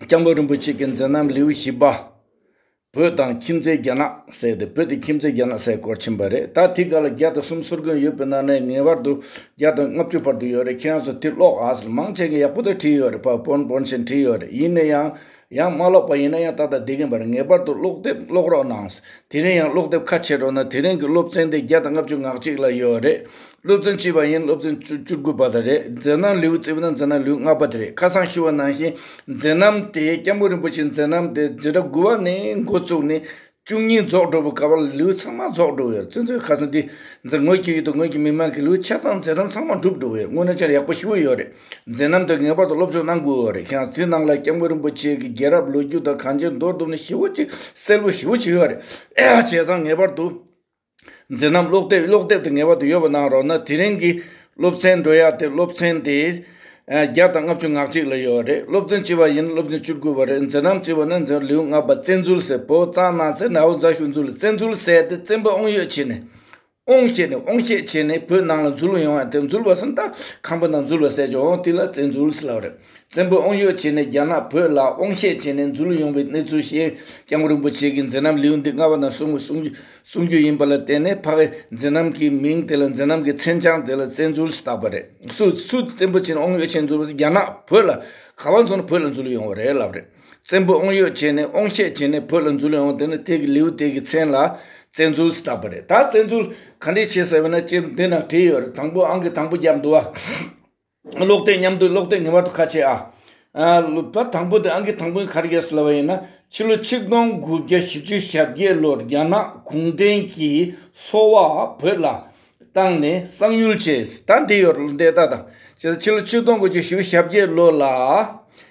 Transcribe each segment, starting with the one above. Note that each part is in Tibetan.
སྐྱབས་མགོན་རིན་པོ་ཆེ་གི་མཛད་རྣམ་ལེའུ་བཞི་པ། བོད་དང་ཁྱིམ་མཚེས་རྒྱ་ནག་སེལ་ཏེ་བོད་དེ་ཁྱིམ་མཚེས་རྒྱ་ནག་སེལ་སྐོར་ཕྱིན་པ་རེད་ད་དེ་ག་ལ་བརྒྱ་དང་གསུམ་ཟུར་དགོན་ཡོད་པའི་ནང་ནས་ངེས་པར་དུ་བརྒྱ་དང་ལྔ་བཅུ་བར་དུ་ཡོད་རེད་ཁྱེད་རང་ཚོ་དེ་ཀློག་ཨ་ཟེར་མང་ཆེ་གི་ཡག་པོ་དེ་བྲིས་ཡོད་རེད་ཕ་བོན་བོན་ཞེས་བྲིས་ཡོད་རེད་ཡིན་ནས་ཡང། ཡང་མ་ཀློག་པ་ཡིན་ན་ཡང་ད་ལྟ་འདི་གིན་པར་ངེས་པར་དུ་ཀློག་དེབ་ཀློག་རོགས་གནང། དེ་རིང་ཡང་ཀློག་དེབ་ཁ་ཕྱེ་རོགས་ན་དེ་རིང་གི་སློབ་ཚན་དེ་བརྒྱ་དང་ལྔ་བཅུ་ངག་གཅིག་ལ་ཡོད་རེད། སློབ་ཚན་གཅིག་པ་ཡིན་སློབ་ཚན་བཅུ་བཅུ་དགུ་པ་དང་རེད་མཛད་རྣམ་ལེའུ་བཙིར་བ་ན་མཛད་རྣམ་ལེའུ་ལྔ་པ་དེ་རེད་ཁ་སང་ཞུ་བ་ནང་བཞིན་མཛད་རྣམ་དེ་སྐྱབས་མགོན་རིན་པོ་ཆེ་མཛད་རྣམ་དེ་འཛིན་གྲྭ་དགུ་བ་ནས་འགོ་བཙུགས་ནས་བཅུ་གཉིས་རྫོགས་འགྲོ་བའི་སྐལ་བ་ལ་ལེའུ་ཚང་མ་རྫོགས་འགྲོ་བའི་བརྩོན་འགྲུས་ཁ་སང་འདི་འཛིན་ངོས་ཀྱི་ཡུལ་དུ་ངོས་ཀྱི་མི་མང་གི་ལེའུ་ཆ་ཚང་འཛིན་རིམ་ཚང་མ་འགྲུབ་འགྲོ་བའི་སྔོན་ནས་ཆར་ཡག་པོ་ཞིག་དབུལ་ཡོད་རེད། འཛིན་རིམ་དེ་ངེས་པར་དུ་སློབ་སྦྱོང་གནང་དགོས་རེད་ཁྱེད་རང་ཚོའི་ནང་ལ་སྐྱབས་མགོན་རིན་པོ་ཆེ་གི་རྒྱལ་རབས་ལོ་རྒྱུས་དང་གངས་ཅན་རྡོ་གདུབ་ནི་ཞི་བོ་གཅིག་སེར་བོ་ཞི་བོ་གཅིག་ཡོད་རེད། བྱས་ཙང་ངེས་པར་དུ། མཛད་རྣམ་ཀློག་དེབ་ཀློག་དེབ་དེ་ངེས་པར་དུ་ཡོད་པ་གནང་རོགས་གནང་དེ་རིང་གི་སློབ་ཚན་འགྲོ་ཡག་དེ་སློབ་ཚན་དེ་བརྒྱ་དང་ལྔ་བཅུ་ངག་གཅིག་ལ་ཡོད་རེད་སློབ་ཚན་བྱིས་པ་ཡིན་ན་སློབ་ཚན་བཅུ་དགུ་བ་རེད་མཛད་རྣམ་བྱིས་པ་ནི་མཛད་ལེའུ་ལྔ་པ་བཙན་འཛུལ་ཟེར་བོད་གཙང་ནང་ཚེ་ནའོ་རྫ་ཤོད་འཛུལ་ལ་བཙན་འཛུལ་ཟེར་ཏེ་བཙན་པོ་ཨོང་ཡོད་བྱས་ནས་ཨོང་ཞེས་ནས་ཨོང་ཤེད་བྱས་ནས་བོད་ནང་ལ་འཛུལ་ཡོང་བ་དེ་འཛུལ་བ་སམ་རྟ་ཁང་པ་ནང་འཛུལ་བ་ཟེར་ཅིང་ཨོང་དེ་ལ་བཙན་འཛུལ་ཟེར་ལབ་རེད་བཙན་པོ་ཨོང་ཡོད་བྱས་ནས་རྒྱ་ནག་བོད་ལ་ཨོང་ཤེད་བྱས་ནས་འཛུལ་ཡོང་བའི་གནས་ཚུལ་ཤེས་སྐྱང་པོ་རིན་པོ་ཆེ་གིས་མཛད་རྣམ་ལེའུ་འདི་ལྔ་པ་ན་གསུངས་པའི་གསུང་རྒྱུན། གསུང་རྒྱུ་ཡིན་པ་ལ་བརྟེན་ནས་ཕ་བས་མཛེ་རྣམ་གྱི་མིང་དེ་ལ་མཛེ་རྣམ་གྱི་མཚན་བྱང་དེ་ལ་བཙན་འཛུལ་ཞེས་བཏགས་པ་རེད། སུ་སུ་བཙན་པོ་བྱས་ནས་ཨོང་ཡོད་བྱས་འཛུལ་བ་རྒྱ་ནག་བོད་ལ་ག་བ་མཚོན་ན་བོད་ལ་འཛུལ་ཡོང་བ་རེད་ལབ་རེད། བཙན་པོས་ཨོང་ཡོད་བྱས་ནས་ཨོང་ཤད་བྱས་ནས་བོད་ལ་འཛུལ་ཡོང་བ་དེ་ནི་དེ་གི་ལེའུ་སྟེ་གི་མཚན་ལ་བཙན་འཛུལ་ཞེས་བཏགས་པ་རེད། ད་བཙན་འཛུལ་ག་འདྲས་བྱས་ཟེར་བ་ན་དཔྱད་འདི་ན་བྲིས་ཡོད་རེད་དང་པོ་ཨང་གི་དང་པོ་རྒྱབ་འདུག་བ། ཀློག་ལྟས་མཉམ་དུ་ཀློག་ལྟས་ངེས་པར་དུ་ཁ་ཆེ་ཨ། ད་དང་པོ་དེ་ཨང་ཀི་དང་པོའི་ཁར་ཡོད་སྲིད་ལ་བ་ཡིན་ན། ཕྱི་ལོ་ཆིག་སྟོང་དགུ་བརྒྱ་བཞི་བཅུ་ཞབས་བརྒྱད་ལོར་རྒྱ་ནག་གུང་ཁྲན་གྱིས་སོ་བ་བོད་ལ་བཏང་ནས་གསང་ཉུལ་བྱས། ད་འདི་ཡོད་ལོ་འདས་ད་དང། ཕྱི་ལོ་ཆིག་སྟོང་དགུ་བཅུ་བཞི་བཞབས་བརྒྱད་ལོ་ལ།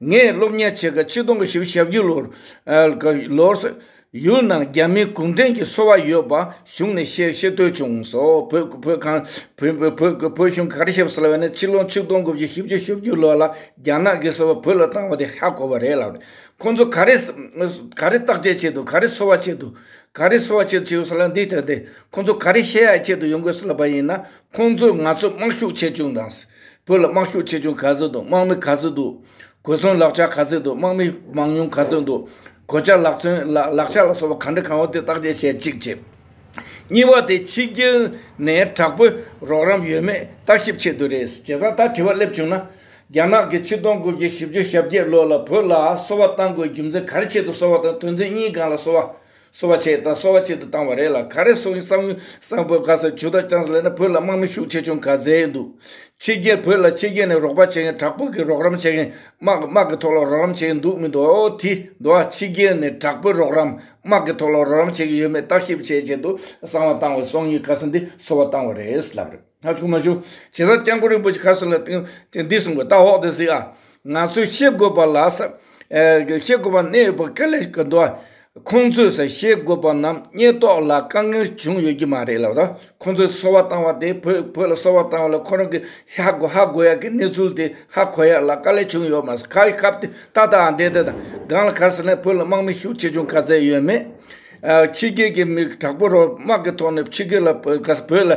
ངས་སློབ་གཉེར་བྱེད་སྐབས་ཆིག་སྟོང་དགུ་བཞི་ཞག་བརྒྱུད་ལོར། ལོར། ཡུལ་ནང་རྒྱ་མིའི་གུང་ཁྲན་གྱི་སོ་བ་ཡོད་པ་གཞུང་ནས་ཤེས་ཤེས་ཐོས་བྱུང་སོ། བོད་བོད་ཁང། བོད་གཞུང་ག་རེ་བྱེད་པ་ཟེར་ལབ་ནས་ཕྱི་ལོ་ཆིག་སྟོང་དགུ་བཞི་བཞི་བཅུ་ཞག་བརྒྱུད་ལོར་ལ་རྒྱ་ནག་གིས་སོ་བ་བོད་ལ་བཏང་བ་དེ་ཧ་གོ་བ་རེད་ལབ་ནས་ཁོང་ཚོ་ག་རེ། ག་རེ་བརྟག་དཔྱད་བྱས་འདུག་ག་རེ་སོ་བ་བྱས་འདུག་ག་རེ་སོ་བ་བྱས་འདུག་ཟེར་ལབ་འདི་ལྟར་ཏེ་ཁོང་ཚོ་ག་རེ་བཤད་ཡག་བཤད་འདུག་ཡོང་དགོས་སུ་ལབ་པ་ཡིན་ན་ཁོང་ཚོས་ང་ཚོས་དམག་ཤུགས་ཆེ་ཆུང་དང། བོད་ལ་དམག་ཤུགས་ཆེ་ཆུང་ག་ཚོད་འདུག་དམག་མི་ག་ཚོད་འདུག་གོ་མཚོན་ལག་ཆ་ག་ཚོད་འདུག་དམག་མི་མང་ཉུང་ག་ཚོད་འདུག་གོ་ཆ་ལག་མཚོན། ལག་ཆ་ལ་སོགས་པ་གང་འདྲ་གང་འོས་དེ་བརྟག་དཔྱད་བྱེད་ཅིག་བྱས། གཉིས་པ་དེ་ཕྱི་རྒྱལ་ནས་དྲག་པོའི་རོགས་རམ་ཡོད་མེད་ལྟ་ཞིབ་བྱེད་དུ་རེད། བྱས་ཙང་ད་དྲི་བ་སླེབས་བྱུང་ན། རྒྱ་ནག་གིས་ཕྱི་གཏོང་སྒོ་འབྱེད་ཞིབ་གཅོད་ཞབས་བརྒྱད་ལོ་ལ་བོད་ལ་གསོ་བ་བཏང་དགོས་རྒྱུ་མཚན་ག་རེ་ཆེད་དུ་གསོ་བ་དང་དོན་ཚན་གཉིས་གང་ལ་གསོ་བ། གསོ་བ་བྱས་དང་གསོ་བ་བྱེད་དུ་བཏང་བ་རེད་ལ་ག་རེ་སོགས་ཡིན་བསམ་ཡུལ་སངས་བོད་ག་སར་ཇུས་ཐག་བཅངས་སོང་ལས་ན་བོད་ལ་དམག་མི་ཤུགས་ཆེ་ཆུང་ག་ཚད་ཡོད་འདུག་ཕྱི་རྒྱལ་བོད་ལ་ཕྱི་རྒྱལ་ནས་རོགས་པ་བྱེད་མཁན་དྲག་པོ་གིས་རོགས་རམ་བྱེད་མཁན་དམག་གི་དམག་གི་ཐོག་ལ་རོགས་རམ་བྱེད་ཀྱི་འདུག་མི་འདུག་དེ་འདུག་ཨ་ཕྱི་རྒྱལ་ནས་དྲག་པོའི་རོགས་རམ་དམག་གི་ཐོག་ལ་རོགས་རམ་བྱེད་ཀྱི་ཡོད་མེད་བརྟག་ཞིབ་བྱས་བྱས་དུ་གསང་བ་བཏང་བས་སོང་ཡུལ་ག་ས་འདི་གསོ་བ་བཏང་བ་རེད་ལབ་རེད། ང་ཆུང་མ་ཞུ། བྱས་ཙང་སྐྱབས་མགོན་རིན་པོ་ཆེ་ཁ་སང་ལ་དེང་དེ་འདི་གསུངས་པ་ད་འོག་དེ་གཟིགས་ཨ། ང་ཚོས་ཤེས་དགོས་པ་ལ་ས། ཤེས་དགོས་པ་གནད་ཡོད་པ་ག་ལེར་ག་འདུག་ཨ། ཁོང་ཚོས་ས་ཤེས་དགོས་པ་རྣམས་རྙེད་རྟོགས་ལ་དཀའ་ངལ་བྱུང་ཡོད་ཀྱི་མ་རེད་ལབ་ད། ཁོང་ཚོས་གསོལ་བ་བཏང་བ་དེ་བོད་བོད་ལ་གསོལ་བ་བཏང་བ་ལ་ཁོ་རང་གི་ཧ་གོ་ཧ་གོ་ཡག་གི་གནས་ཚུལ་དེ་ཧ་གོ་ཡག་ལ་དཀའ་ལས་བྱུང་ཡོད་མ་ཟད་ཁ་ཡི་ཁབ་དེ་ཏག་ཏག་ཨ་འདེད་འདེད་དང་སྒང་ལ་ག་ས་ནས་བོད་ལ་དམག་མི་ཤུགས་ཆེ་ཆུང་ག་ཚད་ཡོད་མེད། ཕྱི་རྒྱལ་གྱི་མི་དྲག་པོ་རོགས་དམག་གི་ཐོག་ནས་ཕྱི་རྒྱལ་ལ་བོད་ལ།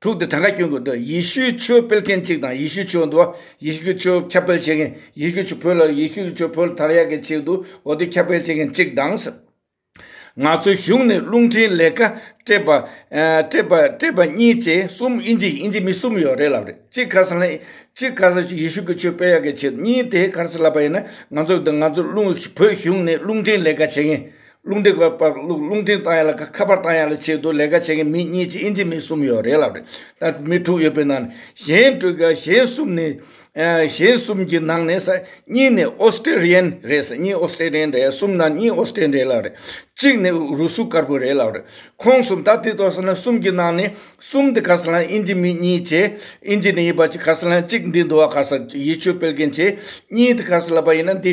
དྲུག་སྟེ་གྲངས་ཀ་བསྐྱོན་དགོས་འདོད་ཡེ་ཤུའི་ཆོས་སྤེལ་མཁན་གཅིག་དང་ཡེ་ཤུའི་ཆོས་འདུལ་བ་ཡེ་ཤུའི་ཆོས་ཁྱབ་སྤེལ་བྱེད་མཁན་ཡེ་ཤུའི་ཆོས་བོད་ལ་ཡེ་ཤུའི་ཆོས་བོད་དར་ཡག་གི་ཆེད་དུ་འོ་དོད་ཁྱབ་སྤེལ་བྱེད་མཁན་གཅིག་དང། ང་ཚོའི་གཞུང་ནས་རླུང་འཕྲིན་ལས་ཀ་སྤྲད་པ་སྤྲད་པ་གཉིས་བཅས་གསུམ་དབྱིན་ཇི་དབྱིན་ཇི་མི་གསུམ་ཡོད་རེད་ལབ་རེད་གཅིག་གྷར་སལ་གཅིག་གྷར་སལ་ཡེ་ཤུའི་ཆོས་སྤེལ་ཡག་གི་ཆེད་དུ་གཉིས་དེ་གྷར་སལ་ལབ་པ་ཡིན་ན་ང་ཚོ་ང་ཚོ་རླུང་བོད་གཞུང་ནས་རླུང་འཕྲིན་ལས་ཀ་བྱེད་མཁན་རླུང་འཕྲིན་བར་བར་རླུང་རླུང་འཕྲིན་བཏང་ཡག་ལ་ཁ་པར་བཏང་ཡག་ལ་བྱེད་དུ་ལས་ཀ་བྱེད་མཁན་མི་གཉིས་ཀྱི་ཨིན་ཇི་མི་གསུམ་ཡོད་རེད་ལབ་རེད་ད་མི་དྲུག་ཡོད་པའི་ནང་གཞན་དྲུག་གི་གཞན་གསུམ་ནི་གཞན་གསུམ་གྱི་ནང་ནས་ས་གཉིས་ནི་ཨོ་སི་ཀྲི་རི་ཡན་རེད་ས་གཉིས་ཨོ་སི་ཀྲི་རི་ཡན་རེད་གསུམ་ནང་གཉིས་ཨོ་སི་ཀྲི་རི་ཡན་རེད་ལབ་རེད་གཅིག་ནི་རུ་སུ་དཀར་པོ་རེད་ལབ་རེད་ཁོང་གསུམ་ད་དེ་ཐོག་སོང་ན་གསུམ་གྱི་ནང་ནས་གསུམ་དེ་ག་ས་ལ་ཨིན་ཇི་མི་གཉིས་བྱེད་ཨིན་ཇི་ནི་ཡིན་པ་གཅིག་ག་ས་ལ་གཅིག་འདི་འདུག་བ་ག་ས་ཡིད་ཆོས་སྤེལ་མཁན་བྱེད་གཉིས་དེ་ག་ས་ལ་པ་ཡིན་ན་དེ་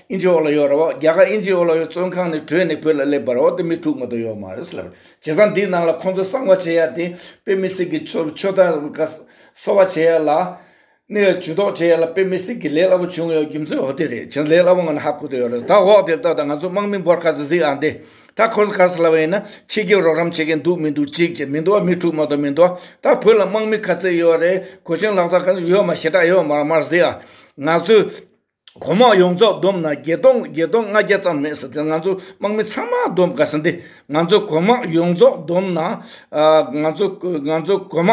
ཨིན་ཇི་ཨོ་ལ་ཡོད་རེད་བ། རྒྱ་གར་ཨིན་ཇི་ཨོ་ལ་ཡོད་བཙོན་ཁང་ནས་བྲོས་ནས་བོད་ལ་སླེབས་པར་འོ་དེ་མི་དྲུག་མ་གཏོགས་ཡོད་མ་རེད་ལབ། བྱས་ཙང་དེའི་ནང་ལ་ཁོང་ཚོ་གསང་བ་བྱེད་ཡ་དེ་དཔེ་མི་སྲིད་གི་ཆོ་ཆོ་ད་ག་གསོ་བ་བྱེད་ཡ་ལ། ནས་ཇུས་ཏོག་བྱེད་ཡ་ལ་དཔེ་མི་སྲིད་གི་ལས་སླ་བོ་བྱུང་ཡོད་རྒྱུ་མཚན་འོ་དེ་རེད་བྱས་ཙང་ལས་སླ་བོ་ང་ནི་ཧ་གོ་དུ་ཡོད་རེད་ད་འོག་དེར་ལྟོས་དང་ང་ཚོ་དམག་མི་འབོར་ཁ་ཟིག་ཟིག་ཨང་དེ་ད་ཁོ་ཚོ་ག་ས་ལ་བ་ཡིན་ན་ཕྱི་རྒྱལ་རོགས་རམ་བྱེད་མཁན་འདུག་མི་འདུག་ཅིག་བྱས་མི་འདུག་བ་མི་དྲུག་མ་གཏོགས་མི་འདུག་བ་ད་བོད་ལ་དམག་མི་ག་ཚོད་ཡོད་རེད་གོ་ཆེན་ལག་ཚ་ག་ཚོད་ཡོད་མ་ཞེ་དྲག་ཡོད་མ་མ་ཟིག་ཨང་ང་ཚོས། གོང་མ་ཡོངས་རྫོགས་བསྡོམས་ན་བརྒྱད་སྟོང་བརྒྱད་སྟོང་ལྔ་བརྒྱ་ཙམ་མེད་ཟེར་དེ་ང་ཚོ་དམག་མི་ཚང་མ་བསྡོམས་དགའ་ས་འདི་ང་ཚོ་གོང་མ་ཡོངས་རྫོགས་བསྡོམས་ན་ང་ཚོ་ང་ཚོ་གོང་མ་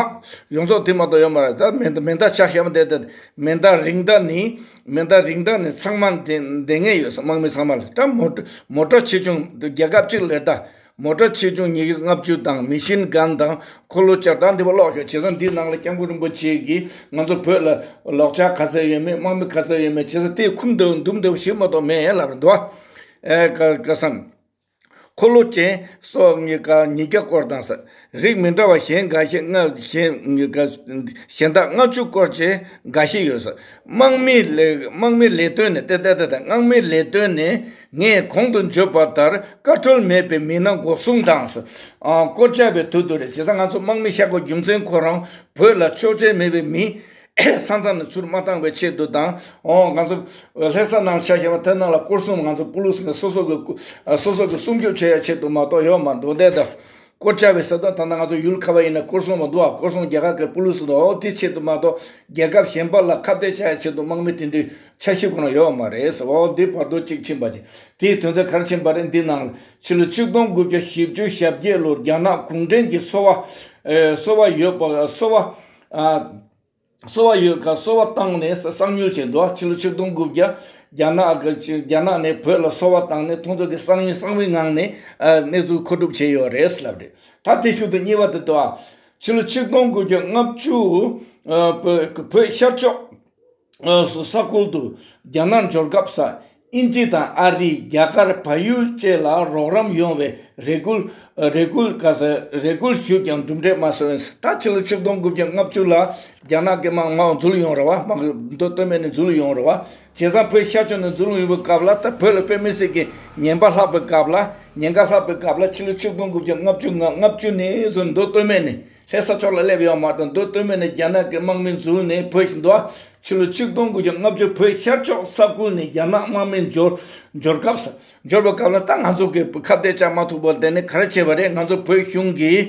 ཡོངས་རྫོགས་དེ་མ་གཏོགས་ཡོད་མ་རེད་ད་མེ་མེ་མདའ་ཆ་ཞེ་མ་དེ་དེ་མེ་མདའ་རིགས་མདའ་ནི་མེ་མདའ་རིགས་མདའ་ནི་ཚང་མ་འདེ་འདེ་ངེས་ཡོད་ས་དམག་མི་ཚང་མ་ལ་ད་མོ་མོ་ཏྲ་ཆེ་ཆུང་རྒྱལ་ཁབ་གཅིག་ལས་ད། མོ་བཀྲ་ཆེ་ཆུང་ཉི་ཤུ་ལྔ་བཅུ་དང་མི་ཤིན་སྒང་དང་འཁོར་ལོ་བཅར་དང་འདི་བ་ཀློག་ཤོག་བྱས་ཙང་འདིའི་ནང་ལ་སྐྱབས་མགོན་རིན་པོ་ཆེ་གིས་ང་ཚོ་བོད་ལ་ལོག་ཆ་ག་ཚད་ཡོད་མེད་དམག་མི་ག་ཚད་ཡོད་མེད་བྱས་ཙང་དེ་ཁུམ་འདུག་འདུག་འདུག་ཞིག་མ་གཏོགས་མེད་ལབ་རེད་འདུག་བ། ཨེ་ཀ་ཀ་བསམ། འཁོར་ལོ་ཅན་སོགས་ཉི་སྐར་ཉིས་བརྒྱ་སྐོར་དང། རིགས་མི་འདྲ་བ་གཞན་འགའ་ཤས་ལྔ་གཞན་དག་ལྔ་བཅུ་སྐོར་བཅས་འགའ་ཤས་ཡོད། དམག་མིའི་ལས་དོན་ནི་དམག་མིའི་ལས་དོན་ནི་ངས་གོང་དུ་བརྗོད་པ་ལྟར་བཀའ་འཁྲོལ་མེད་པའི་མི་སྣ་འགོག་སྲུང་དང། བསྐོ་བྱ་བའི་དོད་དུ་རེད། བྱས་ཙང་ང་ཚོ་དམག་མི་ཤ་སྐོར་རྒྱུ་མཚན་ཁོ་རང་བོད་ལ་ཆོས་ཁྲལ་མེད་པའི་མི་ས་མཚམས་ནས་ཚུར་མ་བཏང་བའི་ཆེད་དུ་དང། ང་ཚོ་ལྷས་ས་ནང་ཆ་ཞེས་པ་དེ་ནང་ལ་སྐོར་གསུམ་ང་ཚོ་པུ་ལུ་སི་ནས་སོ་སོ་གི་སྲུང་སྐྱོབ་བྱེད་ཡ་ཆེད་དུ་མ་གཏོགས་ཡོད་མ་འདུག་དེ་དང། དཀོར་བཅའ་བའི་ས་བདག་ཐ་ན་ང་ཚོ་ཡུལ་ཁ་བ་ཡིན་ན་དཀོར་སྲུང་མ་འདུག་ཨ་དཀོར་སྲུང་རྒྱལ་ཁག་གི་པུ་ལུ་སི་འདུག་ཨོ་དེའི་ཆེད་དུ་མ་གཏོགས་རྒྱལ་ཁབ་གཞན་པ་ལ་ཁ་གཏད་བཅའ་ཡའི་ཆེད་དུ་དམག་མི་དེ་འདྲའི་ཆ་ཤས་གོ་ན་ཡོད་མ་རེད་ཟེར་ཨོ་དེ་བར་དོ་གཅིག་ཕྱིན་པ་ཅི་དེའི་དོན་ཚན་གར་ཕྱིན་པ་རེད་འདི་ནང་ལ་ཕྱི་ལོ་ཆིག་སྟོང་དགུ་བརྒྱ་བཞི་བཅུ་ཞབས་བརྒྱད་ལོར་རྒྱ་ནག་གུང་བྲན་གྱིས་གསོ་བ་གསོ་བ་ཡོད་པ་གསོ་བ་གསོ་བ་ཡོད་ཁར་གསོ་བ་བཏང་ནས་གསང་མྱུལ་བྱས་འདུག་ཕྱི་ལོ་ཆིག་སྟོང་དགུ་བརྒྱ་རྒྱ་ནག་ནས་བོད་ལ་གསོ་བ་བཏང་ནས་ཐོན་ཟོག་གི་གསང་མྱུལ་གསང་བའི་ངང་ནས་གནས་ཚུལ་མཁོ་སྒྲུབ་བྱས་ཡོད་རེད་ལབ་རེད་ད་དེ་ཤུལ་དུ་གཉིས་པ་དེ་དུའང་ཕྱི་ལོ་ཆིག་སྟོང་དགུ་བརྒྱ་ལྔ་བཅུ་བོད་ཤར་ཕྱོགས་སུ་ས་ཁུལ་དུ་རྒྱ་ནག་འབྱོར་སྐབས་ས་ཨིན་ཇི་དང་ཨ་རི་རྒྱ་གར་བལ་ཡུལ་བཅས་ལ་རོགས་རམ་ཡོང་བའི་རེ་སྐུལ་རེ་སྐུལ་ག་ས་རེ་སྐུལ་ཞུས་ཀྱང་གྲུབ་འབྲས་མ་བྱུང་བས་ད་ཕྱི་ལོ་ཆིག་སྟོང་དགུ་བརྒྱ་ལྔ་བཅུ་ལ་རྒྱ་ནག་གི་དམག་དམག་འཛུལ་ཡོང་རེ་བ་དམག་འདོད་བསྟོད་སྨད་ནས་འཛུལ་ཡོང་རེ་བ་བྱས་ཙང་བོད་ཤར་ཕྱོགས་ནས་འཛུལ་འོས་པའི་སྐབས་ལ་ད་བོད་ལ་དཔེ་མི་སྲིད་ཀྱི་ཉེན་པ་ལྷག་པའི་སྐབས་ལ་ཉེན་ཁ་ལྷག་པའི་སྐབས་ལ་ཕྱི་ལོ་ཆིག་སྟོང་དགུ་བརྒྱ་ལྔ་བཅུ་ལྔ་བཅུ་ནས་བཟུང་འདོད་བསྟོད་སྨད་ནས་ལྷའི་ས་ཕྱོགས་ལ་སླེབས་ཡོང་མ་ཐག་མདོ་སྟོད་མི་ནས་རྒྱ་ནག་གི་དམག་མི་འཛུལ་ནས་བོད་ཞི་མདོ་ཕྱི་ལོ་ཆིག་སྟོང་དགུ་བརྒྱ་ལྔ་བཅུར་བོད་ཤར་ཕྱོགས་ས་ཁུལ་ནས་རྒྱ་ནག་དམག་མི་འབྱོར་འབྱོར་སྐབས་སུ་འབྱོར་བའི་སྐབས་ལ་ད་ང་ཚོ་གིས་ཁ་གཏད་བཅག་མ་ཐུབ་པར་དེ་ནི་ག་རེ་བྱས་པ་རེད་ང་ཚོ་བོད་གཞུང་གིས་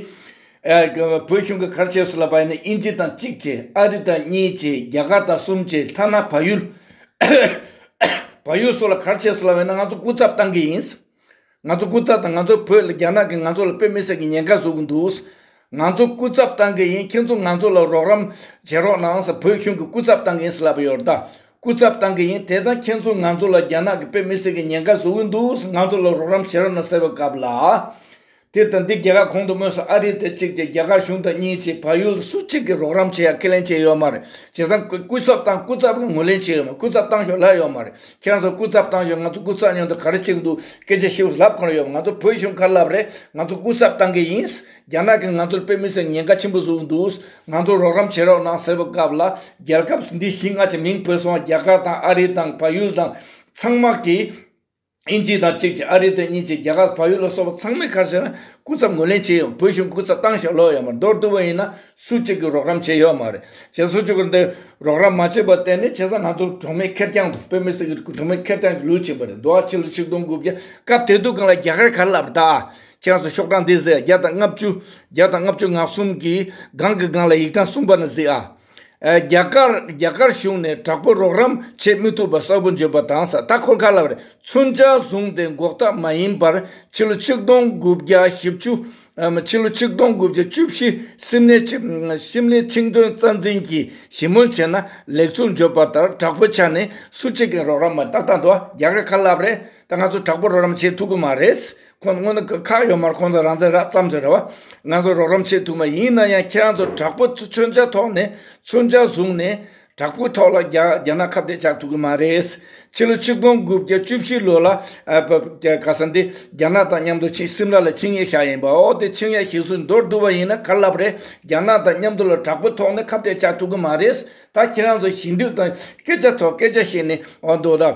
བོད་གཞུང་གིས་ག་རེ་བྱས་སུ་ལ་བ་ཡིན་ན་དབྱིན་ཇི་དང་གཅིག་བྱས་ཨ་རི་དང་གཉིས་བྱས་རྒྱ་གར་དང་གསུམ་བྱས་མཐའ་ན་བལ་ཡུལ་བལ་ཡུལ་སོགས་ལ་ག་རེ་བྱས་སུ་ལ་བ་ཡིན་ན་ང་ཚོ་སྐུ་ཚབ་བཏང་གི་ཡིན། ང་ཚོ་སྐུ་ཚབ་དང་ང་ཚོའི་བོད་ལ་རྒྱ་ནག་གིས་ང་ཚོ་ལ་དཔེ་མི་གསལ་གྱི་ཉེན་ཁ་བཟོ་གི་འདུག་ང་ཚོ་སྐུ་ཚབ་བཏང་གི་ཡིན་ཁྱེད་ཚོ་ང་ཚོ་ལ་རོགས་རམ་བྱེད་རོགས་གནང་ས་བོད་གཞུང་གི་སྐུ་ཚབ་བཏང་གི་ཡིན་ཟེར་ལབ་ཡོད་ད་སྐུ་ཚབ་བཏང་གི་ཡིན་དེ་ཙང་ཁྱེད་ཚོ་ང་ཚོ་ལ་རྒྱ་ནག་གིས་དཔེ་མི་གསལ་གྱི་ཉེན་ཁ་བཟོ་གི་འདུག་ང་ཚོ་ལ་རོགས་རམ་བྱེད་རོགས་གནང་ཟེར་བ་གབ་ལ། དེར་བརྟེན་འདི་རྒྱལ་ཁབ་གོང་དུ་སྨོས་སུ་ཨ་རི་དེ་གཅིག་ཅེས་རྒྱ་གར་གཞུང་དང་གཉིས་ཅེས་བལ་ཡུལ་སུ་གཅིག་གིས་རོགས་རམ་བྱེད་ཡག་ཁས་ལེན་བྱས་ཡོད་མ་རེད་བྱས་ཙང་སྐུ་ཚབ་དང་སྐུ་ཚབ་ལ་ངོས་ལེན་བྱས་ཡོད་མ་རེད་སྐུ་ཚབ་བཏང་ཞོར་ལབ་ཡོད་མ་རེད་ཁྱེད་རང་ཚོ་སྐུ་ཚབ་བཏང་ཞོར་ང་ཚོ་སྐུ་ཚབ་ཉོ་འདོད་ག་རེ་བྱེད་ཀྱི་འདུག་སྐད་ཆ་ཤི་བོ་ལབ་གང་རེ་ཡོད་མ་རེད་ང་ཚོ་བོད་གཞུང་ཁ་ལབ་རེད་ང་ཚོ་སྐུ་ཚབ་བཏང་གི་ཡིན་རྒྱ་ནག་གིས་ང་ཚོར་དཔེ་མི་སྲིད་ཉེན་ཁ་ཆེན་པོ་བཟོ་གི་འདུག་ང་ཚོར་རོགས་རམ་བྱེད་རོགས་གནང་ཟེར་བའི་སྐབས་ལ་རྒྱལ་ཁབ་འདི་བཞི་སྔ་ཕྱི་མིང་བོས་སོང་རྒྱ་གར་དང་ཨ་རི་དང་བལ་ཡུལ་དང་ཚང་མ་གིས། ཨིན་ཇི་དང་གཅིག་གིས་ཨ་རི་དང་གཉིས་ཀྱིས་རྒྱ་གར་བལ་ཡུལ་ལ་སོགས་པ་ཚང་མས་ཁ་བཤད་ན་སྐུ་ཚབ་ངོས་ལེན་བྱས་ཡོང་བོད་གཞུང་སྐུ་ཚབ་ཏང་ཞབས་ལོག་ཡོད་མ་མདོར་བསྡུ་བ་ཡིན་ན་སུ་གཅིག་གིས་རོགས་རམ་བྱས་ཡོད་མ་རེད་བྱེད་སོ་ཅུ་གུར་འདི་རོགས་རམ་མ་བྱས་པར་བརྟེན་ནས་བྱས་ཙང་ང་ཚོ་གྲོང་མི་ཁེར་རྐྱང་དང་བོད་མི་སེར་གྱི་གྲོང་མི་ཁེར་རྐྱང་གི་ལུས་བྱིན་པ་རེད་འདུག་ཨ་ཕྱི་ལོ་ཆིག་སྟོང་དགུ་བརྒྱ་སྐབས་དེ་དུས་གང་ལ་རྒྱ་གར་གར་ལབ་པ་དག་ཁྱེད་ཚོ་ཤོག་གྲངས་འདི་གཟིགས་ཨ་བརྒྱ་དང་ལྔ་བཅུ་བརྒྱ་དང་ལྔ་བཅུ་ང་གསུམ་གྱིས་སྒང་གི་སྒང་ལ་ཡིག་གྲངས་གསུམ་པ་ན་གཟིགས་ཨ། རྒྱ་གར་གཞུང་ནས་དྲག་པོའི་རོགས་རམ་བྱེད་མི་ཐུབ་པ་གསལ་པོ་བརྗོད་པ་དང་ས་མཐའ་འཁོར་ཁག་ལ་མཚོན་ཆ་བཟུང་སྟེ་འགོག་ཐབས་མ་ཡིན་པར་ཕྱི་ལོ་ཆིག་སྟོང་དགུ་བརྒྱ་བཞི་བཅུ་ཕྱི་ལོ་ཆིག་སྟོང་དགུ་བརྒྱ་བཅུ་བཞི་སིམ་ལའི་ཤིང་སྡོན་རྩ་འཛིན་གྱིས་ཞི་མོལ་བྱས་ན་ལེགས་ཚུལ་བརྗོད་པ་ལྟར་དྲག་པོའི་ཆ་ནས་སུ་གཅིག་གིས་རོགས་རམ་མ་བཏང་ད་དུང་རྒྱ་གར་ཁ་ལབ་རེད་ད་ང་ཚོ་དྲག་པོ་རོགས་རམ་བྱེད་ཐུབ་ཀྱི་མ་རེད། ཁོང་ཚོ་སྔོན་ན་ཁག་ཡོད་མར་ཁོང་ཚོ་རང་བཙན་རག་བརྩམས་ཆོས་རེད་བ། ང་ཚོ་རོགས་རམ་བྱེད་ཐུབ་མ་ཡིན་ན་ཡང་ཁྱེད་རང་ཚོ་དྲག་པོ་མཚོན་ཆ་ཐོག་ནས་མཚོན་ཆ་བཟུང་ནས་དྲག་པོའི་ཐོག་ལ་རྒྱ་ནག་ཁ་བརྡས་བྱ་ཐུབ་གི་མ་རེད། ཕྱི་ལོ་ཆིག་སྟོང་དགུ་བརྒྱ་བཅུ་བཞི་ལོ་ལ་ག་ས་འདི་རྒྱ་ནག་དང་མཉམ་དུ་ཆིངས་སིམ་ལ་ལ་ཆིངས་ཡེ་ཤ་ཡིན་པ་འོ་དེ་ཆིངས་ཡ་ཤིག་སུས་འདོར་བསྡུ་བ་ཡིན་ན་ག་ལ་ལབ་རེད་རྒྱ་ནག་དང་མཉམ་དུ་ལ་དྲག་པོའི་ཐོག་ནས་ཁ་བརྡས་བྱ་ཐུབ་གི་མ་རེད་ད་ཁྱེད་རང་ཚོ་ཞི་འདུས་དང་སྐད་ཆ་ཐོག་སྐད་ཆ་བཤད་ནས་འོ་འདོད་ད།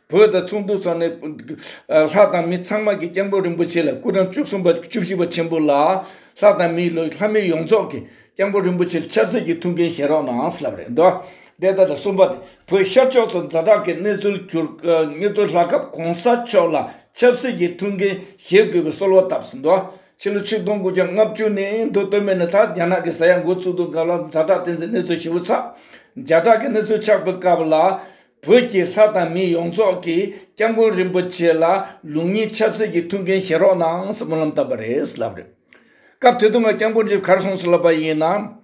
བོད་དང་ཚོགས་འདུ་ཚོགས་ནས། ལྷ་དང་མི་ཚང་མ་གིས་སྐྱབས་མགོན་རིན་པོ་ཆེ་ལ་སྐུ་དྲང་བཅུ་གསུམ་པ་བཅུ་བཞི་པ་ཆེན་པོ་ལ། ལྷ་དང་མིའི་ལོ་ལྷ་མི་ཡོངས་རྫོགས་ཀྱིས་སྐྱབས་མགོན་རིན་པོ་ཆེ་ལ་ཆབ་སྲིད་ཀྱི་ཐུགས་འགན་བཞེས་རོགས་གནང་ཟེར་བ་རེད་འདུག་འདི་ལྟར་གསུངས་པ་དེ་བོད་ཤར་ཕྱོགས་སུ་འཛའ་གྲགས་ཀྱི་གནས་ཚུལ་གྱུར། གནས་ཚུལ་ལྷགས་སྐབས་གོང་ས་མཆོག་ལ་ཆབ་སྲིད་ཀྱི་ཐུགས་འགན་བཞེས་དགོས་པའི་གསོལ་བ་བཏབ་ཟིན་འདུག་ཕྱི་ལོ་ཆིག་སྟོང་དགུ་བརྒྱ་ལྔ་བཅུ་ནས་མདོ་སྟོད་སྨད་ནས་ད་རྒྱ་ནག་གི་ས་ཡ་མགོ་བཙུགས་འདུག་སྐབས་ལ་འཛའ་གྲགས་བསྟན་འཛིན་གནས་ཚུལ་ཞིབ་བོ་ཚགས། འཛའ་གྲགས་ཀྱི་གནས་ཚུལ་ཆགས་པའི་སྐབས་ལ། བོད་ཀྱི་ལྷ་དང་མི་ཡོངས་རྫོགས་ཀྱིས་སྐྱབས་མགོན་རིན་པོ་ཆེ་ལ་ལུགས་གཉིས་ཆབ་སྲིད་ཀྱི་མཐུན་རྐྱེན་བཞེས་རོགས་གནང་སྨོན་ལམ་བཏབ་པ་རེད་ལབ་རེད། སྐབས་དེ་དུས་ང་སྐྱབས་མགོན་གྱི་གར་སོང་ཟིག་ལབ་པ་ཡིན་ན།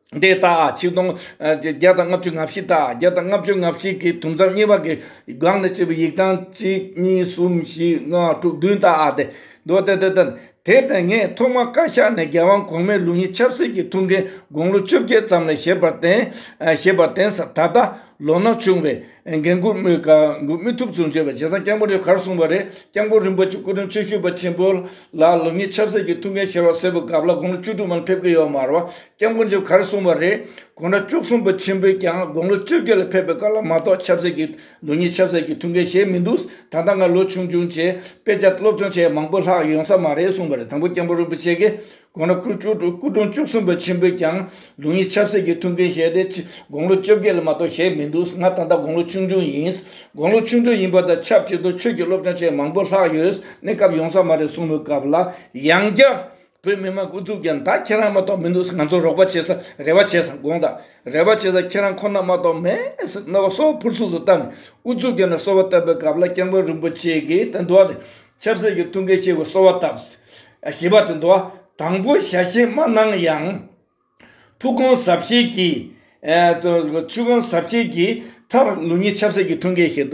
འདས་ད་ཆིག་སྟོང་བརྒྱད་དང་ལྔ་བཅུ་ང་བཞི་དང་བརྒྱད་དང་ལྔ་བཅུ་ང་བཞི་གི་དུམ་ཚང་གཉིས་པ་གི་སྒང་ནས་བྱས་པའི་ཡིག་ཐང་གཅིག་གཉིས་གསུམ་བཞི་ལྔ་དྲུག་བདུན་དང་འདི་འདུག་དེ་དེ་དང་དེ་ལྟར་ངས་ཐོག་མར་བཀའ་ཤག་ནས་རྒྱལ་དབང་གོང་མའི་ལུགས་ཡིན་ཆབ་སྲིད་ཀྱི་ཐུགས་འགན་དགུང་ལོ་བཅོ་བརྒྱད་ཙམ་ལ་བཞེས་པར་བརྟེན། བཞེས་པར་བརྟེན་ས་ད་ལྟ་ལོ་ན་ཆུང་བས་འགན་འཁུར་མི་ཐུབ་ཚུལ་བརྗོད་པར་རྗེ་ཚང་སྐྱབས་མགོན་རེ་ཁར་གསུངས་པ་རེད་སྐྱབས་མགོན་རིན་པོ་ཆེ་སྐུ་དྲུང་ཆེ་ཤུལ་པ་ཆེན་པོ་ལ་ལུགས་ཡིན་ཆབ་སྲིད་ཀྱི་ཐུགས་འགན་བཞེས་བ་སེར་པོ་སྒབ་ལ་དགུང་ལོ་བཅུ་དྲུག་མ་ལ་ཕེབས་ཀྱི་ཡོད་མ་རོ་སྐྱབས་མགོན་རྗེ་ཁར་གསུངས་པ་རེད་གོང་དྲག་བཅུ་གསུམ་པ་ཆེན་པོས་ཀྱང་དགུང་ལོ་བཅོ་བརྒྱད་ལ་ཕེབས་པའི་སྐབས་ལ་མ་གཏོགས་ཆབ་སྲིད་ཀྱི། ལོ་གཉིས་ཆགས་ཟེར་གྱི་ཐུགས་འགན་བཞེས་མི་འདུག་ད་ལྟ་ང་ལོ་ཆུང་ཆུང་བྱས་དཔེ་ཆ་སློབ་སྦྱོང་བྱས་མང་པོ་ལྷག་ཡོང་ས་མ་རེད་གསུངས་པ་རེད་དང་པོ་སྐྱབས་འགྲོ་རིན་པོ་ཆེ་གིས་དགོངས་ན་སྐུ་གྲོངས་བཅུ་གསུམ་པ་ཆེན་པོས་ཀྱང་ལོ་གཉིས་ཆགས་ཟེར་གྱི་ཐུགས་འགན་བཞེས་ཏེ་དགོང་ལོ་བཅོ་བརྒྱད་ལ་མ་གཏོགས་བཞེས་མི་འདུག་ང་ད་ལྟ་དགོང་ལོ་ཆུང་ཆུང་ཡིན། དགོང་ལོ་ཆུང་ཆུང་ཡིན་པ་དང་ཆབས་ཅིག་ཏུ་ཆོས་ཀྱི་སློབ་སྦྱོང་བྱས་མང་པོ་ལྷག་ཡོད་གནས་སྐབས་ཡོང་ས་མ་རེད་གསུངས་མོད་སྐབས་ལ་ཡང་བསྐྱར། བོད་མི་མང་སྐུ་གཟུགས་ཀྱང་ད་ཁྱེད་རང་མ་གཏོགས་མི་འདུག་ང་ཚོ་རོགས་པ་བྱེད་ས་རེ་བ་བྱེད་ས་དགོངས་དག་རེ་བ་བྱེད་ས་ཁྱེད་རང་ཁོ་ན་མ་གཏོགས་མེད་ཟེར་རྣ་བ་སོ་ཕུར་ཚུགས་སུ་བཏབ་ནས་ཨུ་ཚུགས་ཀྱིས་ནས་གསོལ་བ་བཏབ་པའི་སྐབས་ལ་སྐྱབས་མགོན་རིན་པོ་ཆེ་གིས་དེ་འདུག་ནས་ཆབ་སྲིད་ཀྱི་ཐུགས་འགན་བཞེས་དགོས་གསོལ་བ་བཏབ། ཞེས་པ་དེ་འདུག་དང་པོ་ཞལ་བཞེས་མ་གནང་ཡང། ཐུགས་དགོངས་ཟབ་བཞེས་ཀྱིས། མཐར་ལུགས་གཉིས་ཆབ་སྲིད་ཀྱི་ཐུགས་འགན་བཞེས།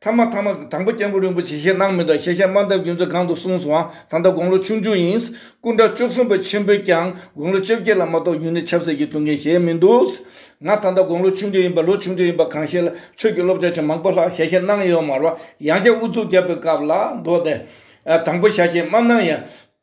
ཐ་མ་ཐ་མ་དང་པོ་སྐྱབས་མགོན་རིན་པོ་ཆེ་ཞེས་གནང་མི་འདུག་ཤེས་བྱ་དམར་འདབ་རྒྱུན་ཚོ་གང་དུ་གསུངས་སོང་ད་ལྟ་དགུང་ལོ་ཆུང་ཆུང་ཡིན། སྐུ་འདྲ་བཅུ་གསུམ་པ་ཆེན་པོས་ཀྱང་དགུང་ལོ་བཅོ་བརྒྱད་ལ་མ་གཏོགས་ཡུན་ནི་ཆབ་སྲིད་ཀྱི་ཐུགས་འགན་བཞེས་མི་འདུག། ང་ད་ལྟ་དགུང་ལོ་ཆུང་ཆུང་ཡིན་པ་ལོ་ཆུང་ཆུང་ཡིན་པ་གང་ཤེས་ལ་ཆོས་ཀྱི་སློབ་སྦྱོང་ཆེན་མང་པོ་ལྷག་ཤེས་བྱ་གནང་ཡོད་མ་རེད། ཡང་བསྐྱར་དབུ་ཚུགས་བརྒྱབ་པའི་སྐབས་ལ་མདོ་སྡེ། དང་པོ་བྱ་ཞེས་མ་གནང་ཡང།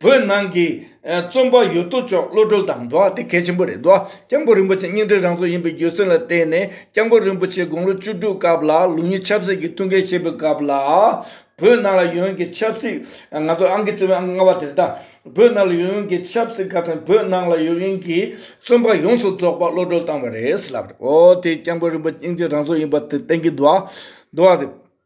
བོད་ནང་གི་རྩོམ་པ་ཡོད་དོ་ཅོག་བློ་གྲོས་དང་འགྲོགས་དེ་གལ་ཆེན་པོ་རེད་འདུག ྋསྐྱབས་མགོན་རིན་པོ་ཆེ་སྙིང་རྗེ་རང་ཚོགས་ཡིན་པའི་རྒྱུ་མཚན་ལ་བརྟེན་ནས ྋསྐྱབས་མགོན་རིན་པོ་ཆེ་དགུང་ལོ་བཅུ་དྲུག་སྐབས་ལ་ལུགས་གཉིས་ཆབ་སྲིད་ཀྱི་ཐུགས་འགན་བཞེས་པའི་སྐབས་ལ་བོད་ནང་ལ་ཡོང་གི་ཆབ་སྲིད་ང་ཚོ་ཨང་ཀི་བཅུ་བའི་ལྔ་བ་དེར་ད་བོད་ནང་ལ་ཡོང་གི་ཆབ་སྲིད་ཁ་ཚོན་བོད་ནང་ལ་ཡོང་གི་རྩོམ་པ་ཡོངས་སུ་རྫོགས་པ་བློ་གྲོས་བཏང་བ་རེད་ལབ་རེད་འོ་དེ ྋསྐྱབས་མགོན་རིན་པོ་ཆེ་སྙིང་རྗེ་རང་ཚོགས་ཡིན་པ་དེ་བསྟན་གྱི་འདུག་འདུག་རེད།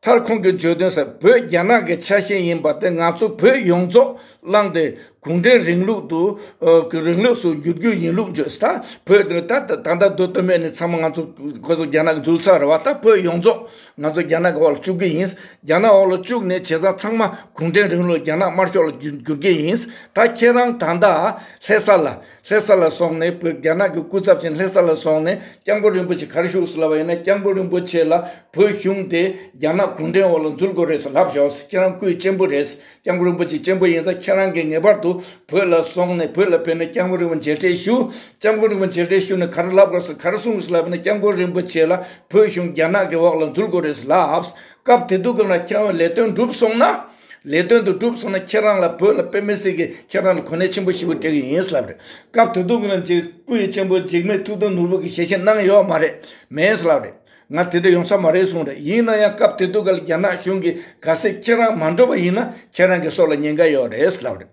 མཐར་ཁོང་གིས་བརྗོད་དོན་ཟེར་བོད་རྒྱ་ནག་གི་ཆ་ཤས་ཡིན་པ་དེ་ང་ཚོ་བོད་ཡོངས་རྫོགས་བླངས་ཏེ་གུང་ཁྲན་རིང་ལུགས་དུ་རིང་ལུགས་སུ་བསྒྱུར་རྒྱུ་ཡིན་ལུགས་བརྗོད་ད་བོད་དོན་ད་ད་ལྟ་བོད་དོན་མེད་ནས་ཚང་མ་ང་ཚོ་ཁོ་ཚོ་རྒྱ་ནག་འཛུལ་ཚར་རེད་བ་ད་བོད་ཡོངས་རྫོགས་ང་ཚོ་རྒྱ་ནག་གི་འོག་ལ་བཅུག་གི་ཡིན་རྒྱ་ནག་འོག་ལ་བཅུག་ནས་བྱས་ཙང་ཚང་མ་གུང་ཁྲན་རིང་ལུགས་རྒྱ་ནག་དམར་ཤོག་ལ་བསྒྱུར་གྱི་ཡིན་ད་ཁྱེད་རང་ད་ལྟ་ལྷས་ས་ལ། ལྷས་ས་ལ་སོང་ནས་བོད་རྒྱ་ནག་གི་སྐུ་ཚབ་ཆེན་ལྷས་ས་ལ་སོང་ནས་སྐྱབས་མགོན་རིན་པོ་ཆེ་གར་བཞུགས་སུ་ལབ་པ་ཡིན་ན་སྐྱབས་མགོན་རིན་པོ་ཆེ་ལ་བོད་གཞུང་དེ་རྒྱ་ནག་གུང་ཁྲན་འོག་ལ་འཛུལ་དགོས་རེད་ཟེར་ལབ་བཞག་ཁྱེད་རང་སྐུའི་གཅེན་པོ་རེད་སྐྱབས་མགོན་རིན་པོ་ཆེ་གཅེན་པོ་ཡིན་ཙང་ཁྱེད་རང་གིས་ངེས་པར་དུ་བོད་ལ་སོང་ནས་བོད་ལ་ཕེབས་ནས་སྐྱབས་མགོན་རིན་པོ་མཇལ་འཕྲད་ཞུ། སྐྱབས་མགོན་རིན་པོ་མཇལ་འཕྲད་ཞུ་ནས་གར་ལབ་དགོས་སེ་གར་སོང་སུ་ལབ་པ་ཡིན་ན་སྐྱབས་མགོན་རིན་པོ་ཆེ་ལ་བོད་གཞུང་རྒྱ་ནག་གི་འོག་ལ་འཛུལ་དགོས་རེད་ཟེར་ལབ། སྐབས་དེ་དུས་གང་ལ་ཁྱེད་རང་ལས་དོན་འགྲུབ་སོང་ན། ལས་དོན་དུ་བསྒྲུབས་སོང་ན་ཁྱེད་རང་ལ་བོད་ལ་དཔེ་མི་སྲིད་གི་ཁྱེད་རང་ལ་གོ་གནས་ཆེན་པོ་ཞིག་པོ་སྤྲད་གི་ཡིན་ལབ་རེད་སྐབས་དེ་དུག་རང་གིས་སྐུ་ཡི་གཅེན་པོ་འཇིགས་མེད་ཐུགས་དམ་ནོར་བུ་གིས་ཞལ་བཞེས་གནང་ཡོད་མ་རེད་མེད་ལབ་རེད་ང་དེ་འདྲ་ཡོང་ས་མ་རེད་གསུངས་རེད་ཡིན་ན་ཡང་སྐབས་དེ་དུག་ག་ལ་རྒྱ་ནག་གཞུང་གིས་ག་སེ་ཁྱེད་རང་མ་འགྲོ་བ་ཡིན་ན་ཁྱེད་རང་གི་སྲོག་ལ་ཉེན་ཁ་ཡོད་རེད་ལབ་རེད།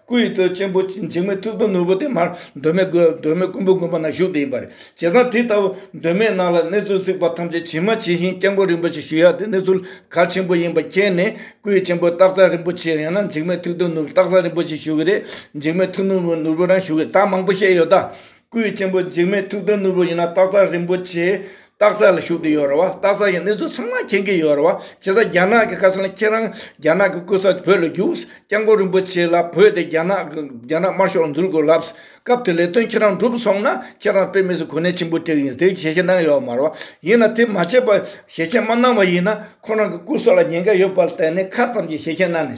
སྐུ་ཡི་སྟོད་ཆེན་པོ་འཇིགས་མེད་ཐུགས་དམ་ནོར་བུ་དེ་མར་གདོད་མའི་གདོད་མའི་སྐུ་འབུམ་དགོན་པ་ན་བཞུགས་ཏེ་ཡིན་པ་རེད། བྱས་ཙང་དེ་ལྟ་བུ་གདོད་མའི་ནང་ལ་གནས་ཚུལ་གཟིགས་པ་ཐམས་ཅད་ཇི་མ་ཇི་བཞིན་སྐྱབས་མགོན་རིན་པོ་ཆེ་ཞུ་ཡག་དེ་གནས་ཚུལ་གལ་ཆེན་པོ་ཡིན་པ་མཁྱེན་ནས་སྐུ་ཡི་ཆེན་པོ་སྟག་ཚང་རིན་པོ་ཆེ་ཡང་ན་འཇིགས་མེད་ཐུགས་དམ་ནོར་བུ་སྟག་ཚང་རིན་པོ་ཆེ་ཞུ་གི་རེད་འཇིགས་མེད་ཐུགས་དམ་ནོར་བུ་རང་ཞུ་གི་རེད་ད་མང་པོ་བཤད་ཡོད་ད། སྐུའི་ཆེན་པོ་འཇིགས་མེད་ཐུགས་དམ་ནོར་བུ་ཡིན་ན་སྟག་ཚ་རིན་པོ་ཆེའི་སྟག་ཚ་ལ་བཞུགས་ཏེ་ཡོད་རེད་བ། སྟག་ཚ་ཡི་གནས་ཚུལ་ཚང་མ་མཁྱེན་གྱི་ཡོད་རེད་བ། བྱས་ཙང་རྒྱ་ནག་གི་བཀའ་ཚང་ཁྱེད་རང་རྒྱ་ནག་གི་སྐུ་ཚ་བོད་ལ་རྒྱུགས། སྐྱབས་མགོན་རིན་པོ་ཆེ་ལ་བོས་ཏེ་རྒྱ་ནག་གི་རྒྱ་ནག་དམར་ཤོག་ལ་འཛུལ་དགོས་ལབ། སྐབས་དེར་ལས་དོན་ཁྱེད་རང་འགྲུབ་སོང་ན་ཁྱེད་རང་དཔེ་མི་སྲིད་གོ་གནས་ཆེན་པོ་དྲེགས་ཡིན་དེ་ཞལ་བཞེས་གནང་ཡོད་མ་རེད་བ། ཡིན་ན་དེ་མ་བྱས་པར་ཞལ་བཞེས་མ་གནང་བ་ཡིན་ན་ཁོ་རང་གི་སྐུ་སྲོག་ལ་ཉེན་ཁ་ཡོད་པར་བལྟས་ནས་ཁ་ཙམ་གྱིས་ཞལ་བཞེས་གནང་ནི།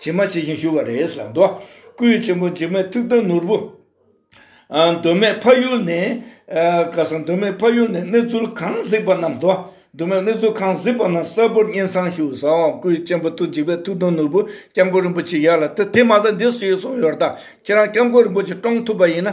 ཇི་མ་ཇི་བཞིན་བཞུགས་པ་རེད་བསམ། འདོད་སྐུའི་ཆེན་པོ་འཇིགས་མེད་ཐུགས་དམ་ནོར་བུ། གདོད་མའི་ཕ་ཡུལ་ནས། ཀ་སང་གདོད་མའི་ཕ་ཡུལ་ནས་གནས་ཚུལ་གང་གཟིགས་པ་རྣམས། གདོད་མའི་གནས་ཚུལ་གང་གཟིགས་པ་རྣམས་གསལ་པོར་སྙན་གསང་ཞུ་བསམ། འདོད་སྐུའི་ཆེན་པོ་ཐུགས་འཇིགས་མེད་ཐུགས་དམ་ནོར་བུ། སྐྱབས་མགོན་རིན་པོ་ཆེ་ཡར་ལ་དེ་མ་ཟད་འདི་སུ་ཡིས་གསུངས་ཡོད་ད། ཁྱེད་རང་སྐྱབས་མགོན་རིན་པོ་ཆེ་བཀྲོངས་ཐུབ་པ་ཡིན་ན།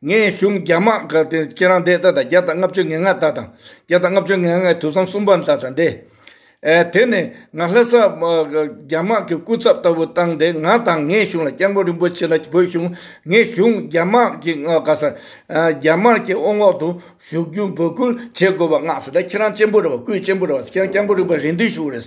ངས་གཞུང་རྒྱ་དམག་དགའ་ལྡན་ཁྱེད་རང་འདས་ད་ད་བརྒྱ་དང་ལྔ་བཅུ་ང་ལྔ་ད་དང་བརྒྱ་དང་ལྔ་བཅུ་ང་ལྔའི་དུས་བཟང་གསུམ་པ་ད་ད་འདས། དེ་ནས་ང་ལྷ་སར་རྒྱ་དམག་གི་སྐུ་ཚབ་ལྟ་བུ་བཏང་སྟེ་ང་དང་ངའི་གཞུང་ལ་སྐྱབས་མགོན་རིན་པོ་ཆེ་ལ་བོས་བྱུང་ངས་གཞུང་རྒྱ་དམག་གི་དགའ་ས་རྒྱ་དམར་གྱི་དབུ་འོག་ཏུ་བཞུགས་རྒྱུ་འབོད་སྐུལ་བྱེད་དགོས་པ་མངགས་སོ་ད་ཁྱེད་རང་གཅེན་པོ་རེད་བ་སྐུའི་གཅེན་པོ་རེད་བ་ཁྱེད་རང་སྐྱབས་མགོན་རིན་པོ་རེད་འདུན་ཞུ་རེད།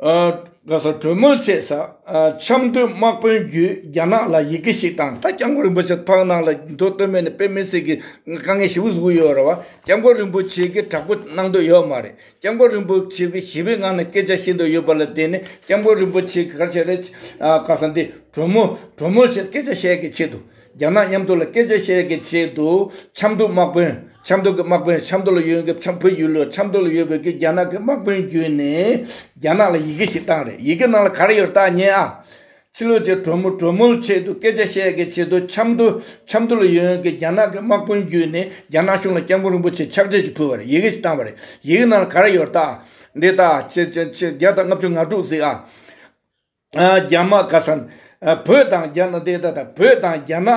གྲོས་མོལ་བྱས་ས་ཆབ་མདོའི་དམག་དཔོན་བརྒྱུད་རྒྱ་ནག་ལ་ཡི་གེ་ཞིག་བཏང་ད་སྐྱབས་མགོན་རིན་པོ་ཆེ་ཕག་ནང་ལ་འགྲོ་བསྟོད་སྨད་ནས་དཔེ་མེད་ཟེར་གི་དཀའ་ངལ་ཞེ་བོ་བཟོ་གི་ཡོད་རེད་བ་སྐྱབས་མགོན་རིན་པོ་ཆེ་གི་དྲག་པོ་གནང་འདོད་ཡོད་མ་རེད་སྐྱབས་མགོན་རིན་པོ་ཆེ་གི་ཞི་བའི་ངང་ནས་སྐད་ཆ་བཤད་འདོད་ཡོད་པ་ལ་བརྟེན་ནས་སྐྱབས་མགོན་རིན་པོ་ཆེ་གི་གར་བྱས་རེད་ག་ས་འདི་གྲོས་མོལ་གྲོས་མོལ་བྱས་སྐད་ཆ་བཤད་གི་ཆེད་དུ། རྒྱ་ནག་མཉམ་དུ་ལ་སྐད་ཆ་བཤད་ཀྱི་ཆེད་དུ་ཆབ་མདོ་དམག་དཔོན་ཆབ་མདོ་གི་དམག་དཔོན་ཆབ་མདོ་ལ་ཡོད་མཁན་ཆབ་བོད་ཡུལ་ལོ་ཆབ་མདོ་ལ་ཡོད་དགོས་ཀྱི་རྒྱ་ནག་གི་དམག་དཔོན་བརྒྱུད་ནས་རྒྱ་ནག་ལ་ཡི་གེ་ཞིག་བཏང་རེད་ཡི་གེ་ནང་ལ་ག་རེ་ཡོད་བལྟ་ཉན་ཨ། ཕྱི་ལོ་ཆེ་གྲོ་མོ་གྲོ་མོའི་ཆེད་དུ་སྐད་ཆ་བཤད་ཀྱི་ཆེད་དུ་ཆབ་མདོ་ཆབ་མདོ་ལ་ཡོད་མཁན་རྒྱ་ནག་གི་དམག་དཔོན་བརྒྱུད་ནས་རྒྱ་ནག་གཞུང་ལ་སྐྱབས་མགོན་རིན་པོ་ཆེ་ཕྱག་བྲིས་ཞིག་ཕུལ་བ་རེད་ཡི་གེ་ཞིག་བཏང་བ་རེད་ཡི་གེ་ནང་ལ་ག་རེ་ཡོད་བལྟ་ཨ། འདི་ལྟ་ཨ། བརྒྱ་དང་ལྔ་བཅུ་ང་དྲུག་གཟིགས་ཨ། རྒྱ་དམག་ཁ་སང་བོད་དང་རྒྱ་ནག་འདས་ད་ད་བོད་དང་རྒྱ་ནག་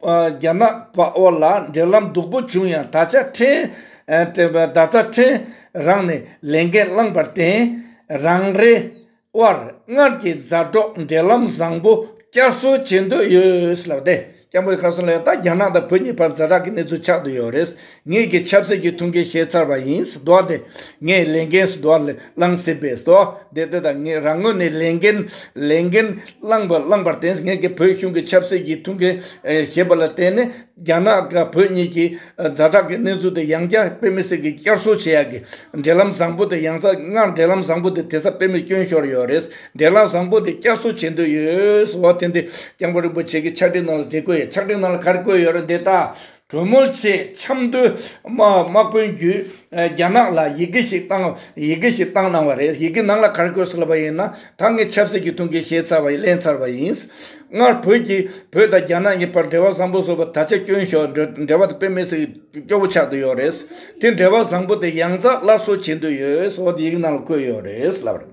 རྒྱ་ནག་བར་ལ་འབྲེལ་ལམ་སྡུག་པོ་བྱུང་ཡང་ད་ཆ་ཕྲན་ད་ལྟ་ཕྲན་རང་ནས་ལས་འགན་བླངས་པར་བརྟེན་རང་རེ་དབར་སྔར་གྱི་མཛའ་གྲོགས་འབྲེལ་ལམ་བཟང་པོ་བསྐྱར་གསོ་བྱེད་འདོད་ཡོད་ལབ་སྟེ། སྐྱབས་མགོན་ཁ་སང་ལན་རྟགས་རྒྱ་ནག་དང་བོད་གཉིས་བར་འཛའ་དྲག་གི་གནས་ཚུལ་ཆགས་འདུག་ཡོད་རེད། ངེད་ཀྱིས་ཆབ་སྲིད་ཀྱི་ཐུགས་འགན་བཞེས་ཚར་བ་ཡིན། ཟློག་དེ། ངས་ལས་འགན་ཟློག་བསླངས་ཟིན་པས་ཟློག་དེ་དེ་དང་ངས་རང་ངོས་ནས་ལས་འགན་ལས་འགན་བསླངས་པ་བསླངས་པར་བརྟེན་ངེད་ཀྱིས་བོད་གཞུང་གི་ཆབ་སྲིད་ཀྱི་ཐུགས་འགན་བཞེས་པ་ལ་བརྟེན་ནས་རྒྱ་ནག་དང་བོད་གཉིས་ཀྱི་འཛའ་དྲག་གི་གནས་ཚུལ་དེ་ཡང་བསྐྱར་དཔེ་མི་སྲིད་ཀྱི་བསྐྱར་གསོ་བྱེད་ཡག་གི་འབྲེལ་ལམ་བཟང་པོ་དེ་ཡང་ཚ་སྔར་འབྲེལ་ལམ་བཟང་པོ་དེ་དེ་སར་དཔེ་མི་བསྐྱོན་ཤོར་ཡོད་རེད། འགྲན་ལམ་བཟང་པོ་དེ་བསྐྱར་གསོ་བྱེད་འདོད་ཡོད་ཟེར་བ་དེ་འདི་སྐྱབས་མགོན་རིན་པོ་ཆེ་གི་ཕྱག་བྲིས་ནང་ལ་དེ་བཀོད་ཡོད་ཕྱག་བྲིས་ནང་ལ་ག་རེ་བཀོད་ཡོད་རེད་འདི་ལྟར་གྲོས་མོལ་ཆེད་ཆབ་མདོའི་དམག་དཔོན་བརྒྱུད་རྒྱ་ནག་ལ་ཡི་གེ་ཞིག་བཏང་ཡི་གེ་ཞིག་བཏང་གནང་བ་རེད་ཡི་གེ་ནང་ལ་ག་རེ་བཀོད་སོང་བ་ཡིན་ན་ད་ངས་ཆབ་སྲིད་ཀྱི་ཐུགས་འགན་བཞེས་ཚར་བ་ཡིན་གླེང་ཚར་བ་ཡིན། སྔར་བོད་ཀྱི་བོད་དང་རྒྱ་ནག་གཉིས་བར་འབྲེལ་བ་བཟང་པོ་བཟོ་བར་ད་ཆ་སྐྱོན་ཞོག་འབྲེལ་བ་དེ་དཔེ་མེད་ཟིག་སྐྱོ་བོ་ཆགས་འདོད་ཡོད་རེད་དེ་འབྲེལ་བ་བཟང་པོ་དེ་ཡང་རྩ་སླར་གསོ་བྱེད་འདོད་ཡོད་ཟེར་བ་དེ་ཡི་གེ་ནང་ལ་བཀོད་ཡོད་རེད་ལབ།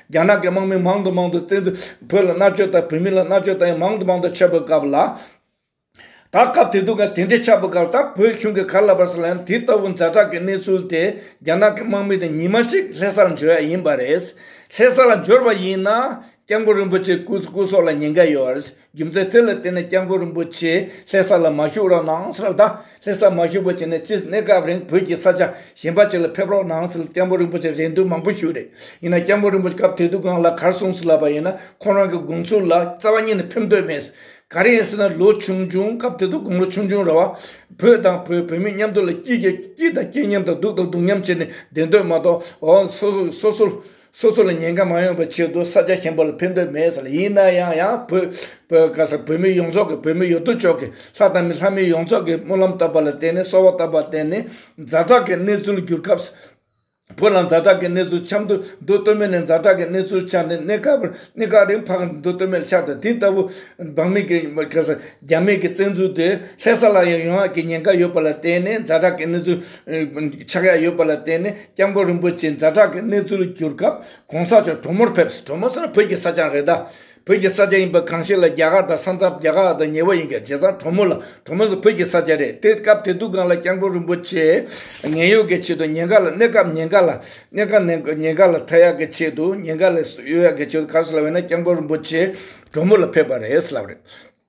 རྒྱ་ནག་གི་དམག་མི་མང་དུ་མང་དུ་བཙན་འཛུལ་བོད་ལ་མནར་གཅོད་དང་བོད་མི་ལ་མནར་གཅོད་དང་ཡང་མང་དུ་མང་དུ་བྱས་པའི་སྐབས་ལ། ད་སྐབས་དེ་དུས་དང་དེ་འདྲའི་ཆགས་པའི་སྐབས་ལྟར་བོད་གཞུང་གི་གར་ལ་བར་ས་ལ་ཡང་དེ་ལྟ་བུ་འཛའ་དྲག་གི་གནས་ཚུལ་དེ་རྒྱ་ནག་གི་དམག་མི་དང་ཉི་མ་ཅིག་ལྷས་ས་ལ་འབྱོར་ཡ་ཡིན་པ་རེད། ལྷས་ས་ལ་འབྱོར་བ་ཡིན་ན་སྐྱབས་མགོན་རིན་པོ་ཆེ་སྐུ་སྲོག་ལ་ཉེན་ཁ་ཡོད། རྒྱུ་མཚན་དེ་ལ་བརྟེན་ནས་སྐྱབས་མགོན་རིན་པོ་ཆེས་ལྷས་ས་ལ་མ་བཞུགས་རོགས་གནང་ཟེར་ད། ལྷས་ས་མ་བཞུགས་པ་བྱས་ནས་སྤྱིར་གནས་སྐབས་རིང་བོད་ཀྱི་ས་ཆ་གཞན་པ་ཅིག་ལ་ཕེབས་རོགས་གནང་ཟེར་ལ་སྐྱབས་མགོན་རིན་པོ་ཆེས་རེ་འདུན་མང་པོ་ཞུས་རེད་ཡིན་ནའང་སྐྱབས་མགོན་རིན་པོ་ཆེས་སྐབས་དེ་དུས་གང་ལ་གར་གསུངས་ཟིན་ལབ་པ་ཡིན་ན་ཁོང་རང་གི་དགོངས་ཚུལ་ལ་རྩ་བ་ཉིད་ནས་ཕེབས་འདོད་མེད། ག་རེ་ཡིན་ཟེར་ན་ལོ་ཆུང་ཆུང་སྐབས་དེ་དུས་དགུང་ལོ་ཆུང་ཆུང་རེད་བ། བོད་དང་བོད་བོད་མི་མཉམ་འདུག་ལ་སྐྱིད་དང་སྐྱིད་མཉམ་དང་སྡུག་དང་སྡུག་མཉམ་བྱས་ནས་བསྡད་འདོད་མ་གཏོགས། སོ་སོར། སོ་སོ་ལ་ཉེན་ཁ་མ་ཡོང་པའི་ཆེད་དུ་ས་ཆ་ཆེན་པོ་ལ་ཕེབས་འདོད་མེད་ཟེར་ཡིན་ན་ཡང་ཡང་བོད་མི་ཡོངས་རྫོགས་ཀྱི་བོད་མི་ཡོད་དོ་ཅོག་གི་ལྷ་དང་མི་ལྷ་མི་ཡོངས་རྫོགས་ཀྱི་སྨོན་ལམ་བཏབ་པ་ལ་བརྟེན་ནས་གསོལ་བ་བཏབ་པར་བརྟེན་ནས་མཛའ་གྲགས་ཀྱི་གནས་ཚུལ་བསྒྱུར་སྐབས་བོད་ལ་མཛའ་གྲགས་ཀྱི་གནས་ཚུལ་ཆགས་འདུག་འདུག་སྟོད་སྨད་ནས་མཛའ་གྲགས་ཀྱི་གནས་ཚུལ་ཆགས་ནས་གནས་སྐབས་རིང་འཕགས་འདུག་སྟོད་སྨད་ཆགས་དང་དེ་ལྟ་བུ་འབངས་མི་གི་རྒྱ་མི་གི་བཙན་འཛུལ་དེ་ལྷས་ས་ལ་ཡང་ཡོང་ཡག་གི་ཉེན་ཁ་ཡོད་པ་ལ་བརྟེན་ནས་མཛའ་གྲགས་ཀྱི་གནས་ཚུལ་ཆགས་ཡག་ཡོད་པ་ལ་བརྟེན་ནས། སྐྱབས་མགོན་རིན་པོ་ཆེ་མཛའ་གྲགས་ཀྱི་གནས་ཚུལ་བསྒྱུར་སྐབས་གོང་ས་མཆོག་གྲོ་མོར་ཕེབས་སུ་གྲོ་མོ་ཟེར་ན་བོད་ཀྱི་ས་ཆའང་རེད་དཱ། བོད་ཀྱི་ས་ཆ་ཡིན་པ་གང་ཞིག་ལ་རྒྱ་གར་དང་ས་མཚམས་རྒྱ་གར་དང་ཉེ་བ་ཡིན་ཀྱང་རྗེས་སར་གྲོ་མོ་ལ་གྲོ་མོ་ཟེར་བོད་ཀྱི་ས་ཆ་རེད་དེ་སྐབས་དེ་དུས་སྒང་ལ་སྐྱབས་མགོན་རིན་པོ་ཆེས་ངན་གཡོག་གི་ཆེད་དུ་ཉེན་ཁ་ལ་གནས་སྐབས་ཉེན་ཁ་ལ་གནས་སྐབས་ཉེན་ཁ་ལ་མཐའ་ཡག་གི་ཆེད་དུ་ཉེན་ཁ་ལས་གཡོལ་ཡག་གི་ཆེད་དུ་གར་སོང་ལ་བས་ན་སྐྱབས་མགོན་རིན་པོ་ཆེ་གྲོ་མོ་ལ་ཕེབས་པ་རེད་ཟེར་ལབ་རེད།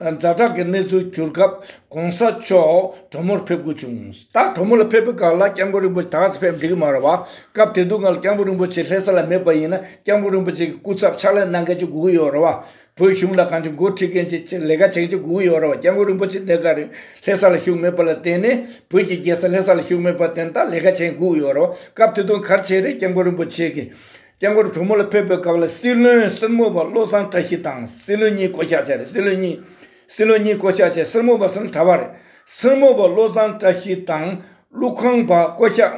མཛའ་གྲགས་ཀྱི་གནས་ཚུལ་གྱུར་སྐབས་གོང་ས་མཆོག་གྲོ་མོར་ཕེབས་དགོས་བྱུང། ད་གྲོ་མོ་ལ་ཕེབས་པའི་སྐབས་ལ་སྐྱབས་མགོན་རིན་པོ་ཆེ་ད་གཟོད་ཕེབས་འགྲིག་གི་མ་རེད་བ། སྐབས་དེ་དུས་ང་ལ་སྐྱབས་མགོན་རིན་པོ་ཆེ་ལྷས་ས་ལ་མེད་པ་ཡིན་ན་སྐྱབས་མགོན་རིན་པོ་ཆེ་གི་སྐུ་ཚབ་ཕྱག་ལས་གནང་མཁན་གྱི་དགོས་ཀྱི་ཡོད་རེད་བ། བོད་གཞུང་ལ་གང་ཅི་འགོ་ཁྲིད་མཁན་གྱི་ལས་ཀ་བྱེད་མཁན་གྱི་དགོས་ཀྱི་ཡོད་རེད་བ་སྐྱབས་མགོན་རིན་པོ་ཆེ་འདས་ག་རེ་ལྷས་ས་ལ་བཞུགས་མེད་པ་ལ་བརྟེན་ནས་བོད་ཀྱི་རྒྱལ་ས་ལྷས་ས་ལ་བཞུགས་མེད་པ་བརྟེན་ད་ལས་ཀ་བྱེད་མཁན་དགོས་ཀྱི་ཡོད་རེད་བ། སྐབས་དེ་དུས་གར་བྱེད་རེད་སྐྱབས་མགོན་རིན་པོ་ཆེ་གི་སྐྱེ་འཁོར་དྲུག་མོ་ལ་ཕེབས་པའི་སྐབས་ལ་སྲིད་བློན་སེར་མོ་པ་བློ་བཟང་བཀྲ་ཤིས་དང་སྲིད་བློན་གཉིས་བསྐོ་གཞག་བྱས་རེད་སྲིད་བློན་གཉིས་སྲིད་བློན་གཉིས་བསྐོ་གཞག་བྱས་སེར་མོ་པ་སང་གྲ་བ་རེད། སེར་མོ་པ་བློ་བཟང་བཀྲ་ཤིས་དང་ཀླུ་ཁང་པ་བསྐོ་གཞག་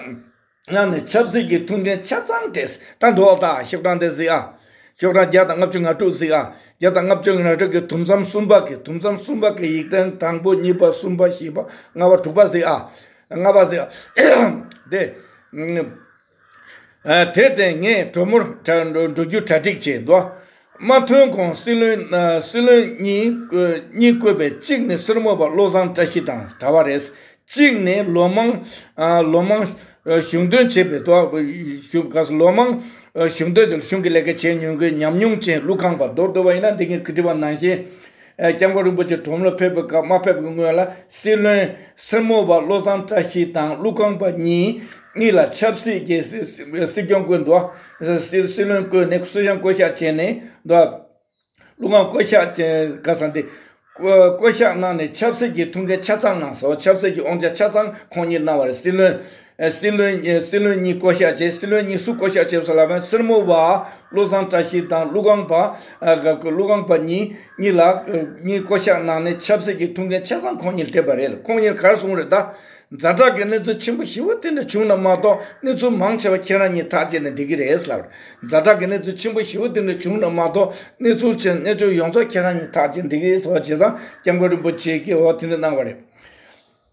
གནང་ནས་ཆབ་སྲིད་ཀྱི་ཐུགས་འགན་ཆ་ཚང་བྲེས་ད་འགྲོ་བ་དང་ཤོག་གྲངས་དེ་གཟིགས་ཨ། ཤོག་གྲངས་བརྒྱ་དང་ལྔ་བཅུ་ང་དྲུག་གཟིགས་ཨ། བརྒྱ་དང་ལྔ་བཅུ་ང་དྲུག་གི་དུམ་མཚམས་གསུམ་པ་གི་དུམ་མཚམས་གསུམ་པ་གི་ཡིག་ཐེངས་དང་པོ་གཉིས་པ་གསུམ་པ་བཞི་པ་ལྔ་བ་དྲུག་པ་གཟིགས་ཨ། ལྔ་པ་གཟིགས་ཨ། དེ། དེར་བརྟེན་ངས་གྲོ་མོར་འགྲོ་རྒྱུ་གྲ་སྒྲིག་བྱས་འདུག་རྨ་ཐོན་ཁོངས་སྲིད་བློན་གཉིས་བསྐོས་པའི་གཅིག་ནི་སོར་མོ་པ་བློ་བཟང་བཀྲ་ཤིས་དང་གྲྭ་བ་རེད། གཅིག་ནི་ལོ་མང་གཞུང་དོན་བྱས་པའི་གཞུང་གི་ལས་ཀ་བྱས་མྱོང་མཁན་ཉམས་མྱོང་ཅན་ཀླུ་ཁང་པ་རྡོར་རྡོར་བ་ཡིན་ལ་འདི་གའི་ཁུལ་དྲི་བ་གནང་ཞིང། སྐྱབས་མགོན་རིན་པོ་ཆེ་གྲོང་མོར་ཕེབས་པའི་སྐབས་མ་ཕེབས་ཀྱི་སྔོན་ལ་སྲིད་བློན་སེར་མོ་བ་བློ་བཟང་བཀྲ་ཤིས་དང་ཀླུ་ཁང་པ་གཉིས་ལ་ཆབ་སྲིད་ཀྱི་སྲིད་སྐྱོང་བསྐོས་འདུག་སྲིད་བློན་བསྐོས་ནས་སྲིད་གཞུང་བསྐོ་གཞག་བྱས་ནས་འདུག་ཀླུ་ཁང་བསྐོ་གཞག་བྱས་སྐབས་སམ་སྟེ། བསྐོ་གཞག་གནང་ནས་ཆབ་སྲིད་ཀྱི་ཐུགས་འགན་ཆ་ཚང་གནང་སོང་ཆབ་སྲིད་ཀྱི་དབང་ཆ་ཆ་ཚང་ཁོང་གཉིས་གནང་བ་རེད་སྲིད་བློན་སྲིད་བློན་གཉིས་བསྐོ་གཞག་བྱས། སྲིད་བློན་གཉིས་སུ་བསྐོ་གཞག་བྱས་སོ་ལབ་པའི་སེར་མོ་བ་བློ་བཟང་བཀྲ་ཤིས་དང་ཀླུ་སྒང་པ་ཀླུ་སྒང་པ་གཉིས་གཉིས་ལ་གཉིས་བསྐོ་གཞག་གནང་ནས་ཆབ་སྲིད་ཀྱི་ཐུགས་འགན་ཆ་ཚང་ཁོང་གཉིས་ལ་སྤྲད་པ་རེད་ཁོང་གཉིས་གར་སོང་རེད་ད། རྫ་བྲག་གི་གནས་ཚུལ་ཆེན་པོ་བཞི་བོ་དེ་འདྲ་བྱུང་ན་མ་གཏོགས་གནས་ཚུལ་མང་ཆེ་བ་ཁྱེད་རང་གཉིས་ཐག་བཅད་ནས་འགྲིག་གི་རེད་ལབ། རྫ་བྲག་གི་གནས་ཚུལ་ཆེན་པོ་བཞི་བོ་དེ་འདྲ་བྱུང་ན་མ་གཏོགས་གནས་ཚུལ་ཆེན་གནས་ཆུང་ཡོངས་རྫོགས་ཁྱེད་རང་གཉིས་ཐག་བཅད་འགྲིག་གི་རེད་ཟེར་བ་བྱས་ཙང་སྐྱབས་མགོན་རིན་པོ་ཆེས་ཀྱིས་འོ་དེ་འདྲ་གནང་བ་རེད།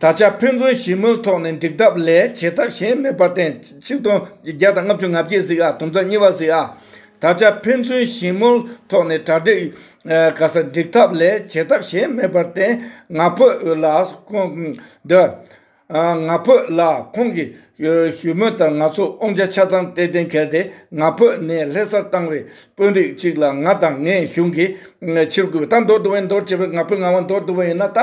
ད་ཆ་ཕན་ཚུན་ཞི་མོལ་ཐོག་ནས་འགྲིག་ཐབས་ལས་བྱེད་ཐབས་གཞན་མེད་པར་བརྟེན་ཆིག་སྟོང་བརྒྱ་དང་ལྔ་བཅུ་ང་བརྒྱད་གཟིགས་ཨ་དུམ་ཚ་གཉིས་པ་གཟིགས་ཨ། ད་ཆ་ཕན་ཚུན་ཞི་མོལ་ཐོག་ནས་གྲ་སྒྲིག་ག་ས་འགྲིག་ཐབས་ལས་བྱེད་ཐབས་གཞན་མེད་པར་བརྟེན་ང་ཕོད་ལ་ང་ཕོད་ལ་ཁོང་གི་ཞུ་མོལ་ལྟར་ང་ཚོ་ཨོང་ཆ་ཆ་ཚང་སྟེ་གཏན་འཁེལ་ཏེ་ང་ཕོད་ནས་ལྷེ་སར་བཏང་བའི་དཔོན་རིགས་གཅིག་ལ་ང་དང་ངའི་གཞུང་གིས་ཕྱིར་བསྐུལ་བ་ད་འདོར་འདོར་བའི་འདོར་བྱས་པས་ང་ཕོད་ང་དབང་འདོར་འདོར་བ་ཡིན་ན་ད།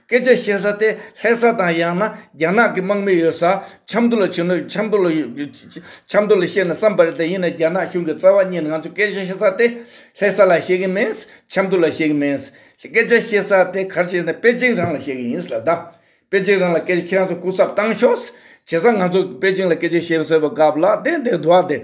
སྐད་ཆ་བཤད་ས་དེ་ལྷད་ས་དང་ཡང་ན་རྒྱ་ནག་གི་དམག་མི་ཡོད་ས་ཆབ་མདོ་ལ་བྱོན་ན་ཆབ་མདོ་ལ་ཆབ་མདོ་ལ་བཤད་ན་བསམ་པ་རེད་ད་ཡིན་ན་རྒྱ་ནག་གཞུང་གི་རྩ་བ་གཉིས་ང་ཚོ་སྐད་ཆ་བཤད་ས་དེ་ལྷད་ས་ལ་བཤད་གི་མིན་ཆབ་མདོ་ལ་བཤད་གི་མིན། སྐད་ཆ་བཤད་ས་དེ་གར་བཤད་ན་པེ་ཅིང་རང་ལ་བཤད་གི་ཡིན་ལ་ད། པེ་ཅིང་རང་ལ་སྐད་ཆ་ཁྱེད་རང་ཚོ་སྐུ་ཚབ་བཏང་ཤོག། བྱས་ཙང་ང་ཚོ་པེ་ཅིང་ལ་སྐད་ཆ་བཤད་ཟེར་བ་དགའ་བ་ལ་དེ་དེ་འདུག་ཨ་དེ།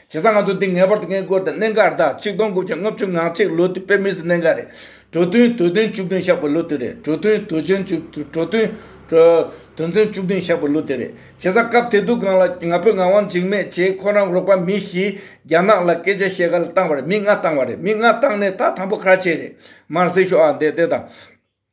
བྱས་ཙང་ང་ཚོ་འདི་ངེས་པར་དུ་ངའི་སྐོར་དང་གནད་འགག་རེད་ད་གཅིག་སྟོང་དགུ་བརྒྱ་ལྔ་བཅུ་ང་གཅིག་ལོ་དུས་དཔེ་མི་སྲིད་གནད་འགག་རེད། གྲོ་བསྟུན་དུས་ཚན་བཅུ་བདུན་བཞག་པའི་ལོ་དུས་རེད་གྲོ་བསྟུན་དུས་ཆེན་བཅུ་གྲོ་བསྟུན། དུས་ཚན་བཅུ་བདུན་བཞག་པའི་ལོ་དུས་རེད། བྱས་ཙང་སྐབས་དེ་དུས་གང་ལ་ང་ཕོད་ངག་དབང་འཇིགས་མེད་ཅེས་ཁོ་རང་རོགས་པ་མི་བཞིས་རྒྱ་ནག་ལ་སྐད་ཆ་བཤད་ག་ལ་བཏང་བ་རེད་མི་ལྔ་བཏང་བ་རེད་མི་ལྔ་བཏང་ནས་ད་དང་པོ་ཁ་ཆེ་རེད་མར་སེར་ཤོག་ཨ་འདས་འདས་དང།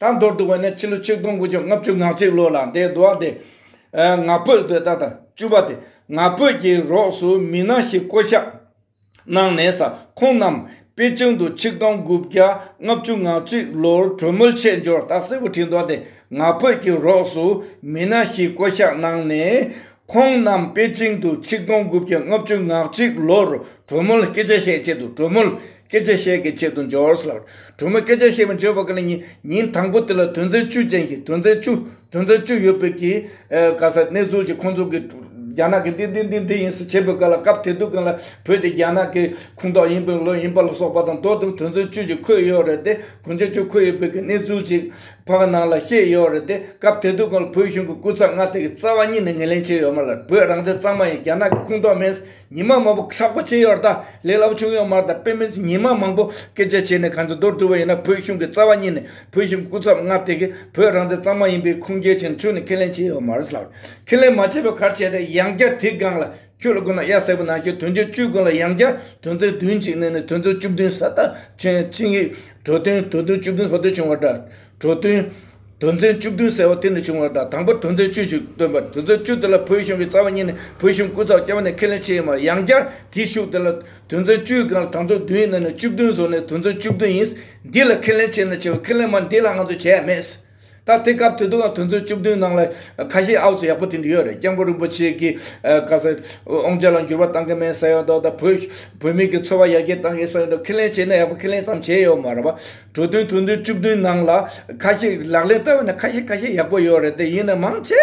དང་མདོར་བསྡུ་བ་ནི་ཕྱི་ལོ་ཆིག་སྟོང་དགུ་བརྒྱ་ལྔ་བཅུ་ང་གཅིག་ལོ་ལ་འདས་འགྲོ་བ་སྟེ། ང་ཕོད་ཟློས་ཟླ་དང་བཅུ་བ་སྟེ་ང་ཕོད་ཀྱི་རོགས་སུ་མི་སྣ་ཞིག་བསྐོ་གཞག་གནང་ནས་ས་ཁོངས་རྣམས་པེ་ཅིང་དུ་ཆིག་སྟོང་དགུ་བརྒྱ་ལྔ་བཅུ་ང་གཅིག་ལོར་གྲོས་མོལ་ཆད་འཇོར་སྟག་སེར་པོ་ཁྲི་མདོ་སྟེ་ང་ཕོད་ཀྱི་རོགས་སུ་མི་སྣ་ཞིག་བསྐོ་གཞག་གནང་ནས་ཁོང་རྣམས་པེ་ཅིང་དུ་ཆིག་སྟོང་དགུ་བརྒྱ་ལྔ་བཅུ་ང་གཅིག་ལོར་གྲོ་མོ་ལ་སྐད་ཆ་བཤད་ཆེད་དུ་གྲོ་མོ་ལ་སྐད་ཆ་བཤད་ཀྱི་ཆེད་དུ་འབྱོར་ལགས། གྲོ་མོས་སྐད་ཆ་བཤད་པའི་འབྱོར་བ་ཀ་ལ་ཉིན་ཉིན་དང་པོ་དེ་ལ་དོན་ཚན་བཅུ་ཅན་གྱི་དོན་ཚན་བཅུ་དོན་ཚན་བཅུ་ཡོད་པའི་གི་ག་ས་གནས་ཚུལ་གྱི་ཁོང་ཚོ་གི་རྒྱ་ནག་གི་འདི་འདི་འདི་འདི་ཡིན་ས་བྱེད་པའི་ཀ་ལ་སྐབས་དེ་དུས་ཀ་ལ་བོད་དེ་རྒྱ་ནག་གི་ཁུངས་གཏོགས་ཡིན་པའི་ལོ་ཡིན་པ་ལ་སོགས་པ་དང་དོ་དམ་དོན་ཚན་བཅུ་ཅིག་འཁོད་ཡོད་རེད་དེ་དོན་ཚན་བཅུ་འཁོད་ཡོད་པའི་གི་གནས་ཚུལ་ཅིག་བོད་པ་ནང་ལ་ཤེས་ཡོད་རེད་དེ་སྐབས་དེ་དུས་ཁོང་ལ་བོད་གཞུང་གི་སྐུ་ཚབ་མངའ་སྡེ་གི་རྩ་བ་གཉིས་ནས་ངེས་ལེན་བྱས་ཡོད་མ་ལ་བོད་རང་བཙན་གཙང་མ་ཡིན་རྒྱ་ནག་གི་ཁུངས་གཏོགས་མིན་ཉི་མ་མང་པོ་ཁྲག་པོ་བྱས་ཡོད་རྟ་ལས་སླ་པོ་བྱུང་ཡོད་མ་རྟ་པེ་མིན་ཉི་མ་མང་པོ་སྐད་ཆ་བྱས་ནས་གང་ཚེ་འདོར་ཐུབ་པ་ཡིན་ན་བོད་གཞུང་གི་རྩ་བ་གཉིས་ནས་བོད་གཞུང་གི་སྐུ་ཚབ་མངའ་སྡེ་གི་བོད་རང་བཙན་གཙང་མ་ཡིན་པའི་ཁུངས་སྐྱེལ་བྱས་ནས་ཚུལ་ནས་ཁས་ལེན་བྱས་ཡོད་མ་རེད་ལགས་ཁས་ལེན་མ་བྱས་པའི་ཁར་བྱས་ཏེ་ཡང་བསྐྱར་དེའི་སྒང་ལ། ཁྱོད་ལ་ཀུན་ལ་གཡག་བསད་པ་ན་ཁྱོད་དོན་བྱེད་བཅུ་ཀུན་ལ་ཡང་བསྐྱར་དོན་མཛད་བདུན་གཅིག་གནས་ནས་དོན་མཛད་བཅུ་བདུན་ས་བདག་ཆེན་ཆིངས་ཡིག་གྲོ་སྟོན་དོན་མཛད་བཅུ་བདུན་ས་བདུད་བྱུང་བ་འདྲ། གྲོ་སྟོན། དོན་མཛད་བཅུ་བདུན་ཟེར་བ་དེ་ནས་བྱུང་བ་འདྲ་དང་པོ་དོན་མཛད་བཅུ་ཞིག་སྟོན་པར་དོན་མཛད་བཅུ་དེ་ལ་བོད་གཞུང་གི་རྩ་བ་གཉིས་ནི་བོད་གཞུང་སྐུ་ཚབ་རྐྱང་བ་ནས་ཁས་ལེན་བྱས་ཡོད་མ་རེད་ཡང་བསྐྱར་དེའི་ཤུགས་དེ་ལ་དོན་མཛད་བཅུའི་སྒང་ལ་དང་མཛད་བདུན་གནས་ནས་བཅུ་བདུན་བཟོ་ནས་དོན་མཛད་བཅུ་བདུན་ཡིན། འདི་ལ་ཁས་ལེན་བྱས་ནས་བྱས་པའི་ཁས་ལེན་མ་འདི་ལ་ང་ཚོས་བྱས་ཡ་མེད། ད་ཐེངས་སྐབས་དེ་དུས་དོན་ཚན་བཅུ་བདུན་ནང་ལ་ཁ་ཤས་ཨའུ་སི་ཡག་པོ་དེ་འདྲ་ཡོད་རེད་སྐྱབས་མགོན་རིན་པོ་ཆེ་གིས་ག་ས་ཨོང་ཅག་ལ་འགྱུར་བ་གཏང་གི་མེད་ས་ཡོད་འདུག་ད་བོད་བོད་མིག་གི་འཚོ་བ་ཡར་རྒྱས་གཏང་གི་ས་ཡོད་འདུག་ཁས་ལེན་བྱས་ན་ཡག་པོ་ཁས་ལེན་ཙམ་བྱས་ཡོད་མ་རེད་བ་གྲོས་དོན་དོན་ཚན་བཅུ་བདུན་ནང་ལ་ཁ་ཤས་ལག་ལེན་བསྟར་བ་ནི་ཁ་ཤས་ཁ་ཤས་ཡག་པོ་ཡོད་རེད་དེ་ཡིན་ན་མང་ཆེ་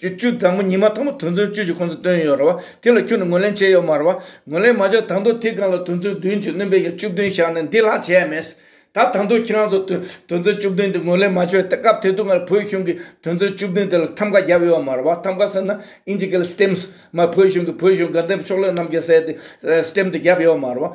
ཀྱི་བཅུ་དང་པོ་ཉི་མ་དང་པོ་དུས་མཚོན་བཅུ་ཀྱི་ཁོངས་སུ་བཏོན་ཡོད་རེད་བ། དེ་ལ་ཁྱོད་ནས་ངོས་ལེན་བྱས་ཡོད་མ་རེད་བ། ངོས་ལེན་མ་བྱས་དང་དུས་དེའི་སྒང་ལ་དུས་མཚོན་བདུན་གྱི་སྣོན་པའི་ཡར་བཅུ་བདུན་བཞག་ནས་འདི་ལྷག་བྱས་ཡ་མེད། ད་དང་དུས་ཁྱེད་རང་ཚོ་དུས་མཚོན་བཅུ་བདུན་དེ་ངོས་ལེན་མ་བྱས་ཏེ་སྐབས་དེ་དུས་སྔར་བོད་གཞུང་གིས་དུས་མཚོན་བཅུ་བདུན་དེ་ལ་ཐམ་ཀ་བརྒྱབ་ཡོད་མ་རེད་བ། ཐམ་ཀ་ཟེར་ན་ཨིན་ཇི་ཀའི་ལ་སྟེམས། མ་བོད་གཞུང་གིས་བོད་གཞུང་དགའ་འདེམས་ཕྱོགས་ལས་རྣམས་ཀྱི་གསལ་ཏེ་སྟེམས་དེ་བརྒྱབ་ཡོད་མ་རེད་བ།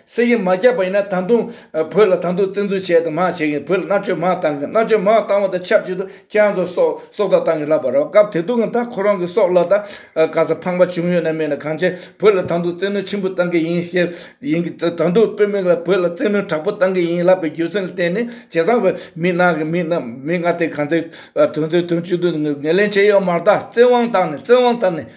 སེམས་ཀྱིས་མ་བསྐྱབས་པ་ཡིན་ན་ད་དུང་བོད་ལ་ད་དུང་བཙན་འཛུལ་བྱས་དང་མ་བྱས་ཀྱི་བོད་ལ་མནར་གཅོད་མང་བཏང་གི་མནར་གཅོད་མང་བཏང་བ་དང་ཆབས་ཅིག་ཏུ་ཁྱེད་རང་ཚོ་སྲོག་སྲོག་བདག་བཏང་གི་ལབ་པ་རེད་སྐབས་དེ་དུང་གི་ད་ཁོ་རང་གི་སྲོག་ལ་ད་ག་ས་ཕངས་པ་བྱུང་ཡོད་ན་མེད་ན་གང་བྱས་བོད་ལ་ད་དུང་བཙན་གནོད་ཆེན་པོ་བཏང་གི་ཡིན་ཞེས་ཡིན་གི་ད་དུང་དཔོན་མིག་ལ་བོད་ལ་བཙན་གནོད་དྲག་པོ་བཏང་གི་ཡིན་ལབ་པའི་རྒྱུ་མཚན་ལ་བརྟེན་ནས་ཇེ་བཟང་བའི་མི་ནག་གི་མི་རྣམས་མི་ལྔ་སྟེ་གང་ཚེ་དོན་ཚེ་དོན་གཅིག་ཏུ་ངོས་ལེན་བྱས་ཡོད་མ་ད་བཙན་དབང་བཏང་ནས་བཙན་དབང་བཏང་ནས།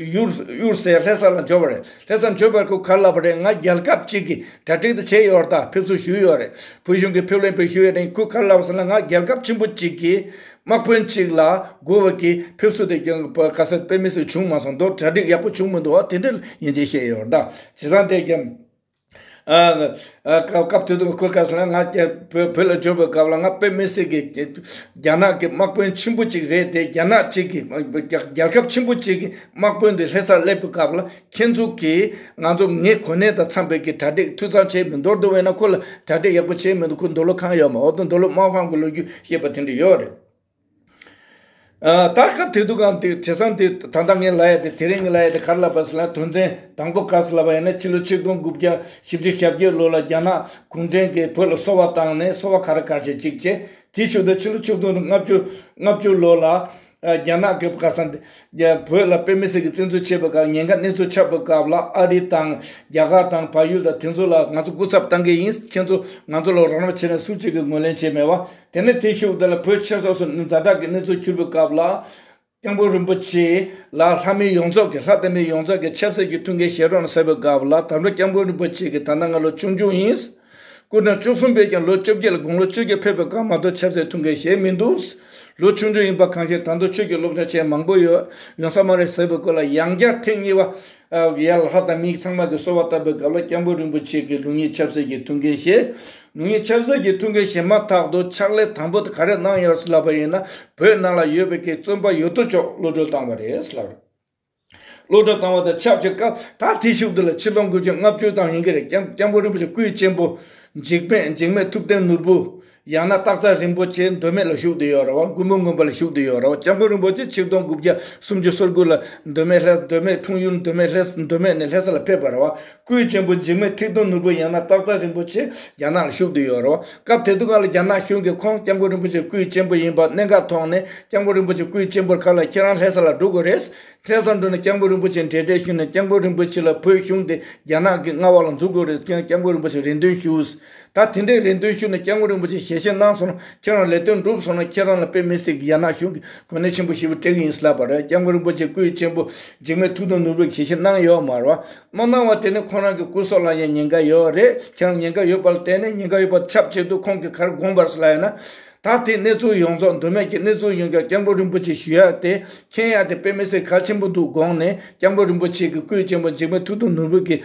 གཡུར་ཟའི་ལྷས་ས་ལ་འབྱོར་བ་རེད། ལྷས་སར་འབྱོར་བར་སྐུ་གར་ལབ་པ་རེད་ང་རྒྱལ་ཁབ་ཅིག་གི་གྲ་སྒྲིག་དུ་བྱས་ཡོད་རྟགས་ཕེབས་བསུ་ཞུས་ཡོད་རེད་བོད་གཞུང་གི་ཕེབས་ལེན་བོད་ཞུ་ཡི་རིང་སྐུ་གར་ལབ་སོང་ན་ང་རྒྱལ་ཁབ་ཆེན་པོ་ཅིག་གི་དམག་དཔོན་གཅིག་ལ་སྒུར་བ་གི་ཕེབས་བསུ་དེ་གྱོན་ག་ས་དཔེ་མི་སྲིད་བྱུང་མ་སོང་མདོར་གྲ་སྒྲིག་ཡག་པོ་བྱུང་མི་འདུག་བ་དེ་འདྲ་ཡིན་ཅེས་བཤད་ཡོད་རེད་བྱས་ཙང་དེ་རྒྱ་སྐབས་དེ་དུས་ཁོས་བཀའ་ཟེར་ན་ང་བོད་ལ་འབྱོར་བའི་སྐབས་ལ་ང་དཔེ་མི་སྲིད་ཀྱི་རྒྱ་ནག་གི་དམག་དཔོན་ཆེན་པོ་གཅིག་རེད་དེ་རྒྱ་ནག་གཅིག་གི་རྒྱལ་ཁབ་ཆེན་པོ་གཅིག་གི་དམག་དཔོན་དེ་ལྷས་སར་སླེབས་པའི་སྐབས་ལ་ཁྱེད་ཚོ་གིས་ང་ཚོ་ངའི་གོ་གནས་དང་འཚམས་པའི་གི་གྲ་སྒྲིག་འཐུས་ཚང་བྱས་མི་འདོར་དུ་བས་ན་ཁོ་ལ་གྲ་སྒྲིག་ཡག་པོ་བྱས་མི་འདུག་ཁོ་འདོད་བློ་ཁང་ཡོད་མ་འོ་དོ་འདོད་བློ་དམག་དཔང་གི་ལོ་རྒྱུས་ཞེས་པ་དེ་འདྲ་ཡོད་རེད། ད་སྐབས་དེ་དུག་གམ་དེ་དྲི་བཟང་དེ་ད་ལྟ་ངས་ལ་ཡ་དེ་དེ་རིང་གི་ལ་ཡ་དེ་གར་ལ་བབས་སོང་ལ་དོན་ཚན་དང་པོ་བཀག་སོང་ལ་བ་ཡིན་ན་ཕྱི་ལོ་ཆིག་སྟོང་དགུ་བརྒྱ་བཞི་བཅུ་ཞབས་བརྒྱད་ལོ་ལ་རྒྱ་ནག་གུང་ཁྲན་གྱིས་བོད་ལ་གསོ་བ་བཏང་ནས་གསོ་བ་ག་རེ་གར་བྱེད་ཅིག་བྱེད་དེ་ཞུ་དང་ཕྱི་ལོ་ཆིག་སྟོང་ལྔ་བཅུ་ལྔ་བཅུ་ལོ་ལ་རྒྱ་ནག་གིས་ཁ་སང་བོད་ལ་དཔེ་མི་སྲིད་ཀྱི་བཙན་འཛུལ་བྱས་པའི་སྐབས་ཉེན་ཁ་གནས་ཚུལ་ཆགས་པའི་སྐབས་ལ་ཨ་རི་དང་རྒྱ་གར་དང་བལ་ཡུལ་དང་དེ་ཚོ་ལ་ང་ཚོ་སྐུ་ཚབ་བཏང་གི་ཡིན་ཁྱེད་ཚོ་ང་ཚོ་ལ་རོགས་རམ་བྱེད་ནས་སུ་གཅིག་གིས་ངོས་ལེན་བྱས་མེད་བ་དེ་ནས་དེའི་ཤུགས་དེ་ལ་བོད་ཆོས་སོགས་སུ་ནི་ཛྭ་དྲག་གི་གནས་ཚུལ་གྱུར་པའི་སྐབས་ལ། སྐྱེང་པོ་རིན་པོ་ཆེ་ལ་ལྷ་མིའི་ཡོངས་རྫོགས་ཀྱི་ལྷ་དེ་མིའི་ཡོངས་རྫོགས་ཀྱི་ཆབ་སྲིད་ཀྱི་ཐུགས་འགན་བཞེས་རོགས་གནང་ཟེར་བའི་སྐབས་ལ་དམ་པ་སྐྱེང་པོ་རིན་པོ་ཆེ་གིས་ད་ལྟ་ང་ལོ་ཆུང་ཆུང་ཡིན། སྐུ་ཕྲེང་བཅུ་གསུམ་པས་ཀྱང་ལོ་བཅོ་བརྒྱད་ལ་དགུང་ལོ་བཅོ་བརྒྱད་ཕེབས་པའི་སྐབས་མ་གཏོགས་ཆབ་སྲིད་ཐུགས་འགན་བཞེས་མི་འདུག། ལོ་ཆུང་ཆུང་ཡིན་པ་གང་ཤེས་ད་དུང་ཆོས་ཀྱི་སློབ་སྦྱོང་བྱས་མང་པོ་ཡོད་ཡོང་ས་མ་རེད་ཟེར་བའི་སྐོར་ལ་ཡང་བསྐྱར་ཐེངས་གཉིས་པ། ཡར་ལྷ་དང་མིའི་ཚང་མ་གིས་གསོལ་བ་བཏབ་པའི་སྐབས་ལ་སྐྱབས་མགོན་རིན་པོ་ཆེ་གིས་ལུགས་གཉིས་ཆབ་སྲིད་ཀྱི་ཐུགས་འགན་བཞེས། ལུགས་གཉིས་ཆབ་སྲིད་ཀྱི་ཐུགས་འགན་བཞེས་མ་ཐག་ཏུ་ཕྱག་ལས་དང་པོ་དེ་ག་རེ་གནང་ཡོད་རེད་ལབ་པ་ཡིན་ན་བོད་ནང་ལ་ཡོད་པའི་གི་བཙོན་པ་ཡོད་དོ་ཅོག་གློད་གྲོལ་བཏང་བ་རེད་ལབ། གློད་གྲོལ་བཏང་བ་དང་ཆབས་ཅིག་སྐབས་ད་ཐེངས་ཕྱུག་བསྡུ་ལ་ཕྱིར་ལོག་འགུལ་རྒྱུ་ལྔ་བཅུའི་ཐང་ཡིན་གྱི་རེད་སྐྱབས་མགོན་རིན་པོ་ཆེ་སྐུའི་གཅེན་པོ་འཇིགས་མེད་འཇིགས་མེད་ཐུབ་བསྟན་ནོར་བུ། ཡང་ན་སྟག་རྩ་རིན་པོ་ཆེའི་མདོ་སྨད་ལ་བཞུགས་ཏེ་ཡོད་ར་བ་མགོན་པོ་མགོན་པ་ལ་བཞུགས་ཏེ་ཡོད་ར་བ་སྐྱབས་མགོན་རིན་པོ་ཆེ་ཆིག་སྟོང་དགུ་བརྒྱ་སུམ་ཅུ་སོ་དགུ་ལ་མདོ་སྨད་ལྷས་མདོ་སྨད་འཁྲུངས་ཡུལ་མདོ་སྨད་ལྷས་མདོ་སྨད་ནས་ལྷས་ས་ལ་ཕེབས་པ་ར་བ་སྐུའི་གཅེན་པོ་འཇིགས་མེད་ཐིག་སྟོང་ནོར་བུ་ཡང་ན་སྟག་རྩ་རིན་པོ་ཆེ་རྒྱ་ནག་ལ་བཞུགས་ཏེ་ཡོད་ར་བ་སྐབས་དེ་དུས་གང་ལ་རྒྱ་ནག་གཞུང་གིས་ཁོང་སྐྱབས་མགོན་རིན་པོ་ཆེ་སྐུའི་གཅེན་པོ་ཡིན་པ་གནད་འགག་མཐོང་ནས་སྐྱབས་མགོན་རིན་པོ་ཆེ་སྐུའི་གཅེན་པོར་ཁ་ལ་ཁྱེད་རང་ལྷས་ས་ལ་འགྲོ་དགོས་རེད། ལྷས་ས་འགྲོ་ནས་སྐྱབས་མགོན་རིན་པོ་ཆེ་འབྲེལ་འདྲེས་ཞུས་ནས་སྐྱབས་མགོན་རིན་པོ་ཆེ་ལ་བོད་གཞུང་དེ་རྒྱ་ནག་གིས་མངའ་བ་ལ་འཛུགས་དགོས་རེད་སྐྱབས་མགོན་རིན་པོ་ཆེ་རེ་འདུན་ཞུས། ད་དེ་འདྲའི་རེ་འདུན་ཞུས་ནས་སྐྱག་ངོ་རིན་པོ་ཆེ་ཞལ་བཞེས་གནང་སོང་ན་ཁྱེད་རང་ལས་དོན་འགྲུབ་སོང་ན་ཁྱེད་རང་ལ་དཔེ་མི་སྲིད་གི་ཡ་ནག་གཞུང་གི་གོ་གནས་ཆེན་པོ་ཞེ་པོ་དྲེགས་ཡིན་སླ་བ་རེད་སྐྱག་ངོ་རིན་པོ་ཆེ་སྐུའི་གཅེན་པོ་འཇིགས་མེད་ཐུགས་དུང་ནོར་བུས་ཞལ་བཞེས་གནང་ཡོད་མ་རེད་བ། མ་གནང་བ་དེ་ནི་ཁོང་རང་གི་སྐུ་སྲོག་ལ་ཡང་ཉེན་ཁ་ཡོད་རེད་ཁྱེད་རང་ཉེན་ཁ་ཡོད་པ་ལ་བརྟེན་ནས་ཉེན་ཁ་ཡོད་པ་དེ་ཁྱབ་ཆེད་དུ་ཁོང་གི་གར་དགོངས་པར་སླ་ཡོད་ན། ད་དེ་གནས་ཚུལ་ཡོངས་རྫོགས་འདོད་མོས་ཀྱི་གནས་ཚུལ་ཡོང་རྒྱུར་སྐྱག་ངོ་རིན་པོ་ཆེ་ཞུ་ཡག་དེ་མཁྱེན་ཡག་དེ་དཔེ་མི་སྲིད་གལ་ཆེན་པོ་འདུག་དགོངས་ནས་སྐྱག་ངོ་རིན་པོ་ཆེ་གི་སྐུའི་གཅེན་པོ་འཇིགས་མེད་ཐུགས་དུང་ནོར་བུ་གིས།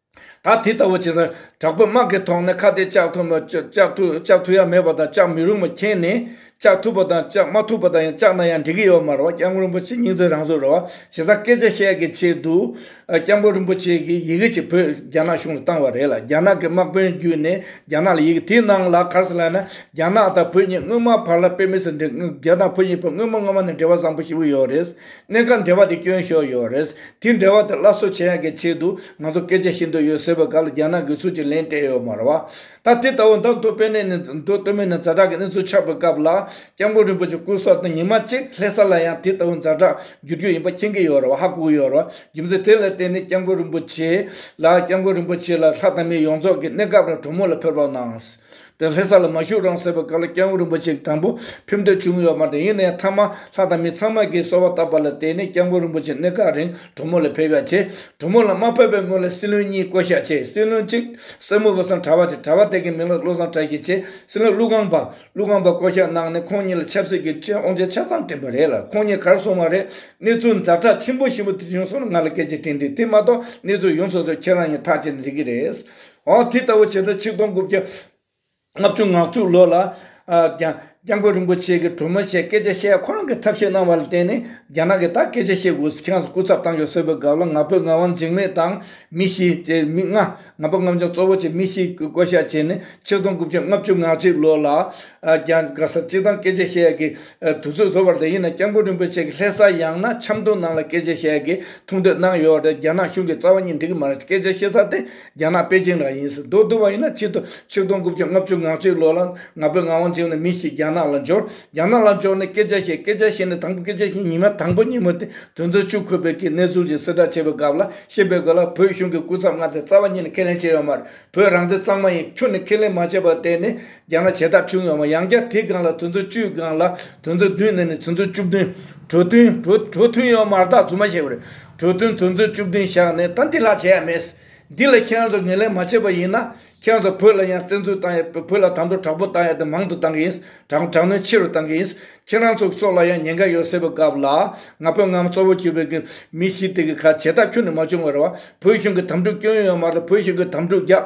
ད་དེ་ལྟ་བུ་བྱེད་ས་དྲག་པོའི་དམག་གི་ཐོག་ནས་ཁ་གཏད་བཅག་ཐུབ་བཅག་ཐུབ་ཡ་མེད་པ་དང་བཅག་མི་རུང་བ་མཁྱེན་ནས་བཅག་ཐུབ་པ་དང་བཅག་མ་ཐུབ་པ་དང་ཡང་བཅག་ན་ཡང་འགྲིག་གི་ཡོད་མ་རེད་བ་སྐྱབས་མགོན་རིན་པོ་ཆེ་སྙིང་རྗེ་རང་བཟོ་རེད་བ་བྱེད་ས་སྐད་ཆ་བཤད་གི་ཆེད་དུ་སྐྱབས་མགོན་རིན་པོ་ཆེ་གི་ཡི་གེ་ཅིག་བོད་རྒྱ་ནག་གཞུང་ལ་བཏང་བ་རེད་ལ་རྒྱ་ནག་གི་དམག་དཔོན་བརྒྱུད་ནས་རྒྱ་ནག་ལ་ཡི་གེ་དེ་གནང་ལ་གར་སོང་ལ་ཡིན་ན་རྒྱ་ནག་དང་བོད་གཉིས་སྔོན་མ་བར་ལ་དཔེ་མི་སྲིད་འགྲིག་རྒྱ་ནག་བོད་གཉིས་བོད་སྔོན་མ་སྔོན་མ་ནས་འབྲེལ་བ་བཟང་པོ་ཞིག་ཡོད་རེད་གནད་འགག་འབྲེལ་བ་དེ་སྐྱོན་ཤོར་ཡོད་རེད། དེ་འབྲེལ་བ་དེ་སླར་གསོ་བྱེད་ཡག་གི་ཆེད་དུ་ང་ཚོར་སྐད་ཆ་བཤད་འདོད་ཡོད་ཟེར་བའི་སྐབས་ལ་རྒྱ་ནག་གི་སུད་ཀྱི་ལན་སྤྲད་ཡོད་མ་རེད་བ། ད་དེ་ལྟ་བུ་འདམ་རྡོ་དཔེ་གནས་ནས་འདུག་སྟོད་སྨད་ནས་རྫ་བྲག་གི་གནས་ཚུལ་ཆགས་པའི་སྐབས་ལ་སྐྱབས་མགོན་རིན་པོ་ཆེ་སྐུ་སྲོག་དང་ཉི་མ་གཅིག་ལྷེ་ས་ལ་ཡང་དེ་ལྟ་བུ་རྫ་བྲག་བསྒྱུར་རྒྱུ་ཡིན་པ་མཁྱེན་གྱི་ཡོད་རེད་བ་ཧ་གོ་གི་ཡོད་རེད་བ་རྒྱུ་མཚན་དེ་ལ་བརྟེན་ནས་སྐྱབས་མགོན་རིན་པོ་ཆེ་ལ་སྐྱབས་མགོན་རིན་པོ་ཆེ་ལ་ལྷ་དང་མི་ཡོངས་རྫོགས་ཀྱི་གནས་སྐབས་ར་གྲོ་མོ་ལ་ཕེབས་རོགས་གནང། དེར་ལྷས་ས་ལ་མ་བཞུགས་རང་སྲེག་པའི་སྐབས་ལ་སྐྱེ་བོ་རིན་པོ་ཆེ་དང་པོ་ཕེབས་འདོད་བྱུང་ཡོད་མ་དང་ཡིན་ན་ཡང་ཐ་མ་ལྷ་དང་མི་ཚང་མ་གིས་གསོལ་བ་བཏབ་པ་ལ་བརྟེན་ནས་སྐྱེ་བོ་རིན་པོ་ཆེ་གནས་སྐབས་རིང་གྲོ་མོ་ལ་ཕེབས་ཡ་ཆེ། གྲོ་མོ་ལ་མ་ཕེབས་པའི་སྔོན་ལ་སྲིད་བློན་གཉིས་བསྐོ་བཞག་བྱས་སྲིད་བློན་གཅིག་སྲས་མོ་བུ་བཟང་གྲྭ་བ་བྱས་གྲྭ་བ་དེ་གའི་མིང་ལ་བློ་བཟང་གྲྭ་ཞེས་བྱས་སྲིད་བློན་ཀླུ་སྒང་པ་ཀླུ་སྒང་པ་བསྐོ་བཞག་གནང་ནས་ཁོང་གཉིས་ལ་ཆབ་སྲིད་ཀྱི་ཁྲིད་དབང་ཆ་ཆ་ཚང་བསྐྲུན་པ་རེད་ལ་ཁོང་གཉིས་གར་སོང་བ་རེད་གནས་ཚུལ་མཛའ་གྲགས་ཆེན་པོ་ཞིག་མུ་མཐུད་བྱུང་སོང་ལ་ང་ལ་སྐད་ཆ་དྲིས་འདུག་དེ་མ་གཏོགས་གནས་ཚུལ་ཡོངས་རྫོགས་ཚོ་ཁྱེད་རང་གཉིས་ཐག་བཅད་ནས་རིག་གི་རེད། འོག་དེ་ལྟ་བུ་བྱེད་ས་ཆིག་སྟོང་དགུ་བརྒྱ་ལྔ་བཅུ་ང་བཅུ་ལོ་ལ། སྐྱབས་མགོན་རིན་པོ་ཆེ་གིས་གྲོ་མོ་ཆེ་སྐད་ཆ་བཤད་ཁོ་རང་གི་ཐབས་ཤེས་གནང་བ་ལ་བརྟེན་ནས་རྒྱ་ནག་གིས་ད་སྐད་ཆ་བཤད་དགོས་སུ་ཁྱེད་རང་ཚོ་སྐུ་ཚབ་བཏང་ཆོག་ཟེར་བའི་སྐབས་ལ་ང་ཕོད་ངག་དབང་འཇིགས་མེད་དང་མི་བཞི་བཅས་མི་ལྔ་ང་ཕོད་རྔམ་བྱང་གཙོ་བོ་བཅས་མི་བཞི་གིས་བསྐོ་བཞག་བྱས་ནས་ཆིག་སྟོང་དགུ་བརྒྱ་ལྔ་བཅུ་ང་གཅིག་ལོ་ལ། སྐད་ས་གཅིག་དང་སྐད་ཆ་བཤད་ཡག་གི་དུས་ཚོད་བཟོ་བ་རེད་ཡིན་ན་སྐྱབས་མགོན་རིན་པོ་ཆེ་གི་ལྷས་ས་ཡང་ན་ཆབ་མདོ་ནང་ལ་སྐད་ཆ་བཤད་ཡག་གི་ཐུགས་འདོད་གནང་ཡོད་རེད་རྒྱ་ནག་གཞུང་གིས་རྩ་བ་གཉིས་འགྲིག་གི་མ་རེད་སྐད་ཆ་བཤད་ས་དེ། རྒྱ་ནག་པེ་ཅིང་ལ་ཡིན་ཟེར་མདོག་བསྡུར་བ་ཡིན་ན་ཕྱི་དུ་ཆིག་སྟོང་དགུ་བརྒྱ་ལྔ་བཅུ་ང་གཅིག་ལོ་ལ་ང་ཕོད་ངག་དབང་ཆེན་ནས་མི་ཞིག་རྒྱ་ནག་ལ་འབྱོར། རྒྱ་ནག་ལ་འབྱོར་ནས་སྐད་ཆ་བཤད་སྐད་ཆ་བཤད་ནས་དང་པོ་སྐད་ཆ་བཤད་ཉི་མ་དང་པོ་ཉིན་མོ་དེ་དོན་ཚོད་བཅུ་འཁོད་པའི་གིས་གནས་ཚུལ་གྱི་གསལ་བསྒྲགས་བྱས་པའི་སྐབས་ལ་ཤེས་པའི་དགོས་ལ་བོད་གཞུང་གི་སྐུ་ཚབ་ང་དེ་རྩ་བ་ཉིད་ནས་ཁས་ལེན་བྱས་ཡོད་མ་རེད་བོད་རང་བཙན་གཙང་མ་ཡིན་ཁྱོད་ནས་ཁས་ལེན་མ་བྱས་པ་དེ་ནི་རྒྱང་ལ་བྱེ་ཐག་ཁྲིའུ་ཡོངས་མ་ཡང་བརྒྱ་དེའི་སྒང་ལ་དུས་མཚོན་བཅུའི་སྒང་ལ་དུས་མཚོན་བདུན་ནས་ནི་དུས་མཚོན་བཅུ་བདུན། གྲོ་ཐུན། གྲོ་ཐུན་ཡོངས་མར་དག་རྫུན་མ་བཤད་པ་རེད། གྲོ་ཐུན་དུས་མཚོན་བཅུ་བདུན་བཞག་ནས་ད་འདི་ལྷག་བྱས་ཡ་མེད། འདི་ལ་ཁྱེད་རང་ཚོ་ངེས་ལེན་མ་བྱས་པ་ཡིན་ན། ཁྱེད་རང་ཚོ་བོད་ལ་ཡང་བཙན་འཛུལ་བཏང་ཡ་བོད་ལ་དང་དུ་དྲག་པོ་བཏང་ཡ་དེ་མང་དུ་བཏང་གི་ཡིན། དྲག་དྲག་གནོན་ཆེ་རུ་བཏང་གི་ཡིན། ཁྱེད་རང་ཚོ་སྲོག་ལ་ཡང་ཉེན་ཁ་ཡོད་སྲིད་པ་སྐབས་ལ། ང་བོད་ངམ་གཙོ་བོ་གྱུར་པའི་གི་མི་ཞིག་དེ་གི་ཁ་བྱེ་ཐག་ཁྱོན་ནས་མ་བྱུང་བར་བ། བོད་གཞུང་གི་དམ་ཕྲུག་སྐྱོན་ཡོན་ཡོད་མ་རེད་བོད་གཞུང་གི་དམ་ཕྲུག་རྒྱག།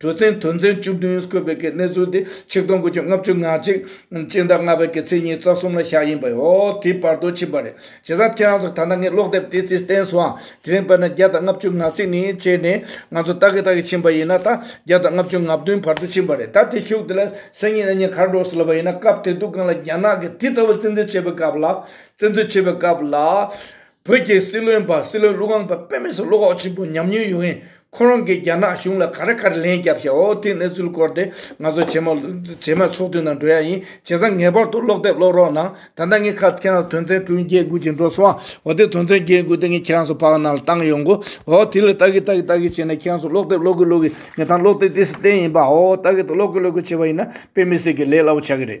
གྲུ་གཟིངས་དུས་མཚན་བཅུ་བདུན་བཀོད་པའི་གནས་ཚུལ་དེ་ཆིག་སྟོང་དགུ་བཅུ་ལྔ་བཅུ་ང་གཅིག། སྤྱི་ཟླ་ལྔ་པའི་གི་ཚེས་ཉིན་རྩ་གསུམ་ལ་ཞག་ཡིན་པ་ཡོད་དེའི་བར་དུ་ཕྱིན་པ་རེད། བྱས་ཙང་ཁྱེད་རང་ཚོ་ད་ལྟ་ངའི་ཀློག་དེབ་དེའི་ཚིག་བསྟན་སུའང་དེ་རིང་དཔེར་ན་བརྒྱ་དང་ལྔ་བཅུ་ང་གཅིག་ནས་བྱས་ནས་ང་ཚོ་ལྟ་གི་ལྟ་གི་ཕྱིན་པ་ཡིན་ན་ད་བརྒྱ་དང་ལྔ་བཅུ་ང་བདུན་བར་དུ་ཕྱིན་པ་རེད་ད་དེ་ཤུགས་དེ་ལ་སེམས་ཉིད་ཨ་མྱེས་གར་འགྲོ་ཟེར་ལབ་པ་ཡིན་ན་སྐབས་དེ་དུས་གང་ལ་རྒྱ་ནག་གིས་དེ་ལྟ་བུ་བཙན་འཛུལ་བྱས་པའི་སྐབས་ལ། བཙན་འཛུལ་བྱས་པའི་སྐབས་ལ། བོད་ཀྱི་སྲིད་བློན་པ་སྲིད་བློན་ཀླུ་སྒང་པ་དཔེ་མེད་སུ་བློ་ཁོག་ཆེན་པོ་ཉམས་མྱོང་ཡོད་མཁན་ཁོ་རང་གིས་རྒྱ་ནག་གཞུང་ལ་ག་རེ་ག་རེ་ལན་རྒྱབ་ཤག་ཨོ་དེ་གནས་ཚུལ་སྐོར་དེ་ང་ཚོ་བྱེ་མ་བྱེ་མའི་ཚོགས་འདུའི་ནང་འགྲོ་ཡ་ཡིན་བྱས་ཙང་ངེས་པར་དུ་ཀློག་དེབ་ཀློག་རོགས་གནང་ད་ལྟ་ངས་ཁ་ཁྱེད་རང་དོན་ཚན་དྲུག་བརྒྱད་དགུ་ཅིག་འགྲོ་སོང་ཨོ་དེ་དོན་ཚན་བརྒྱད་དགུ་དེ་ངས་ཁྱེད་རང་ཚོ་ཕག་ནང་ལ་བཏང་ཡོང་གོ་ཨོ་དེ་ལ་ལྟ་གི་ལྟ་གི་ལྟ་གི་བྱས་ན་ཁྱེད་རང་ཚོ་ཀློག་དེབ་ཀློག་གི་ཀློག་གི་ངས་ད་ཀློག་དེབ་དེ་སྲིད་བསྟན་ཡིན་པ་ཨོ་ལྟ་གི་ཏུ་ཀློག་གི་ཀློག་གི་བྱས་པ་ཡིན་ན་དཔེ་མི་སྲིད་གི་ལས་སླ་བོ་ཆགས་ཀྱི་རེད་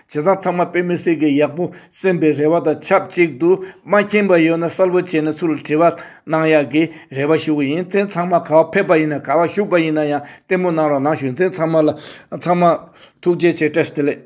བྱས་ཙང་ཚང་མ་དཔེ་མི་སྲིད་ཀི་ཡག་པོ་སེམས་པའི་རེ་བ་དང་ཆབས་ཅིག་ཏུ་མ་མཁྱེན་པ་ཡོད་ན་གསལ་བོ་བྱས་ནས་ཚུར་དྲི་བ་གནང་ཡག་གི་རེ་བ་ཞུ་གི་ཡིན་མཚན་ཚང་མ་ག་བ་ཕེབས་པ་ཡིན་ན་ག་བ་བཞུགས་པ་ཡིན་ན་ཡང་བསྟན་པོ་གནང་རོགས་གནང་ཞུ་མཚན་ཚང་མ་ལ་ཚང་མ་ཐུགས་རྗེ་ཆེ་བཀྲ་ཤིས་བདེ་ལེགས།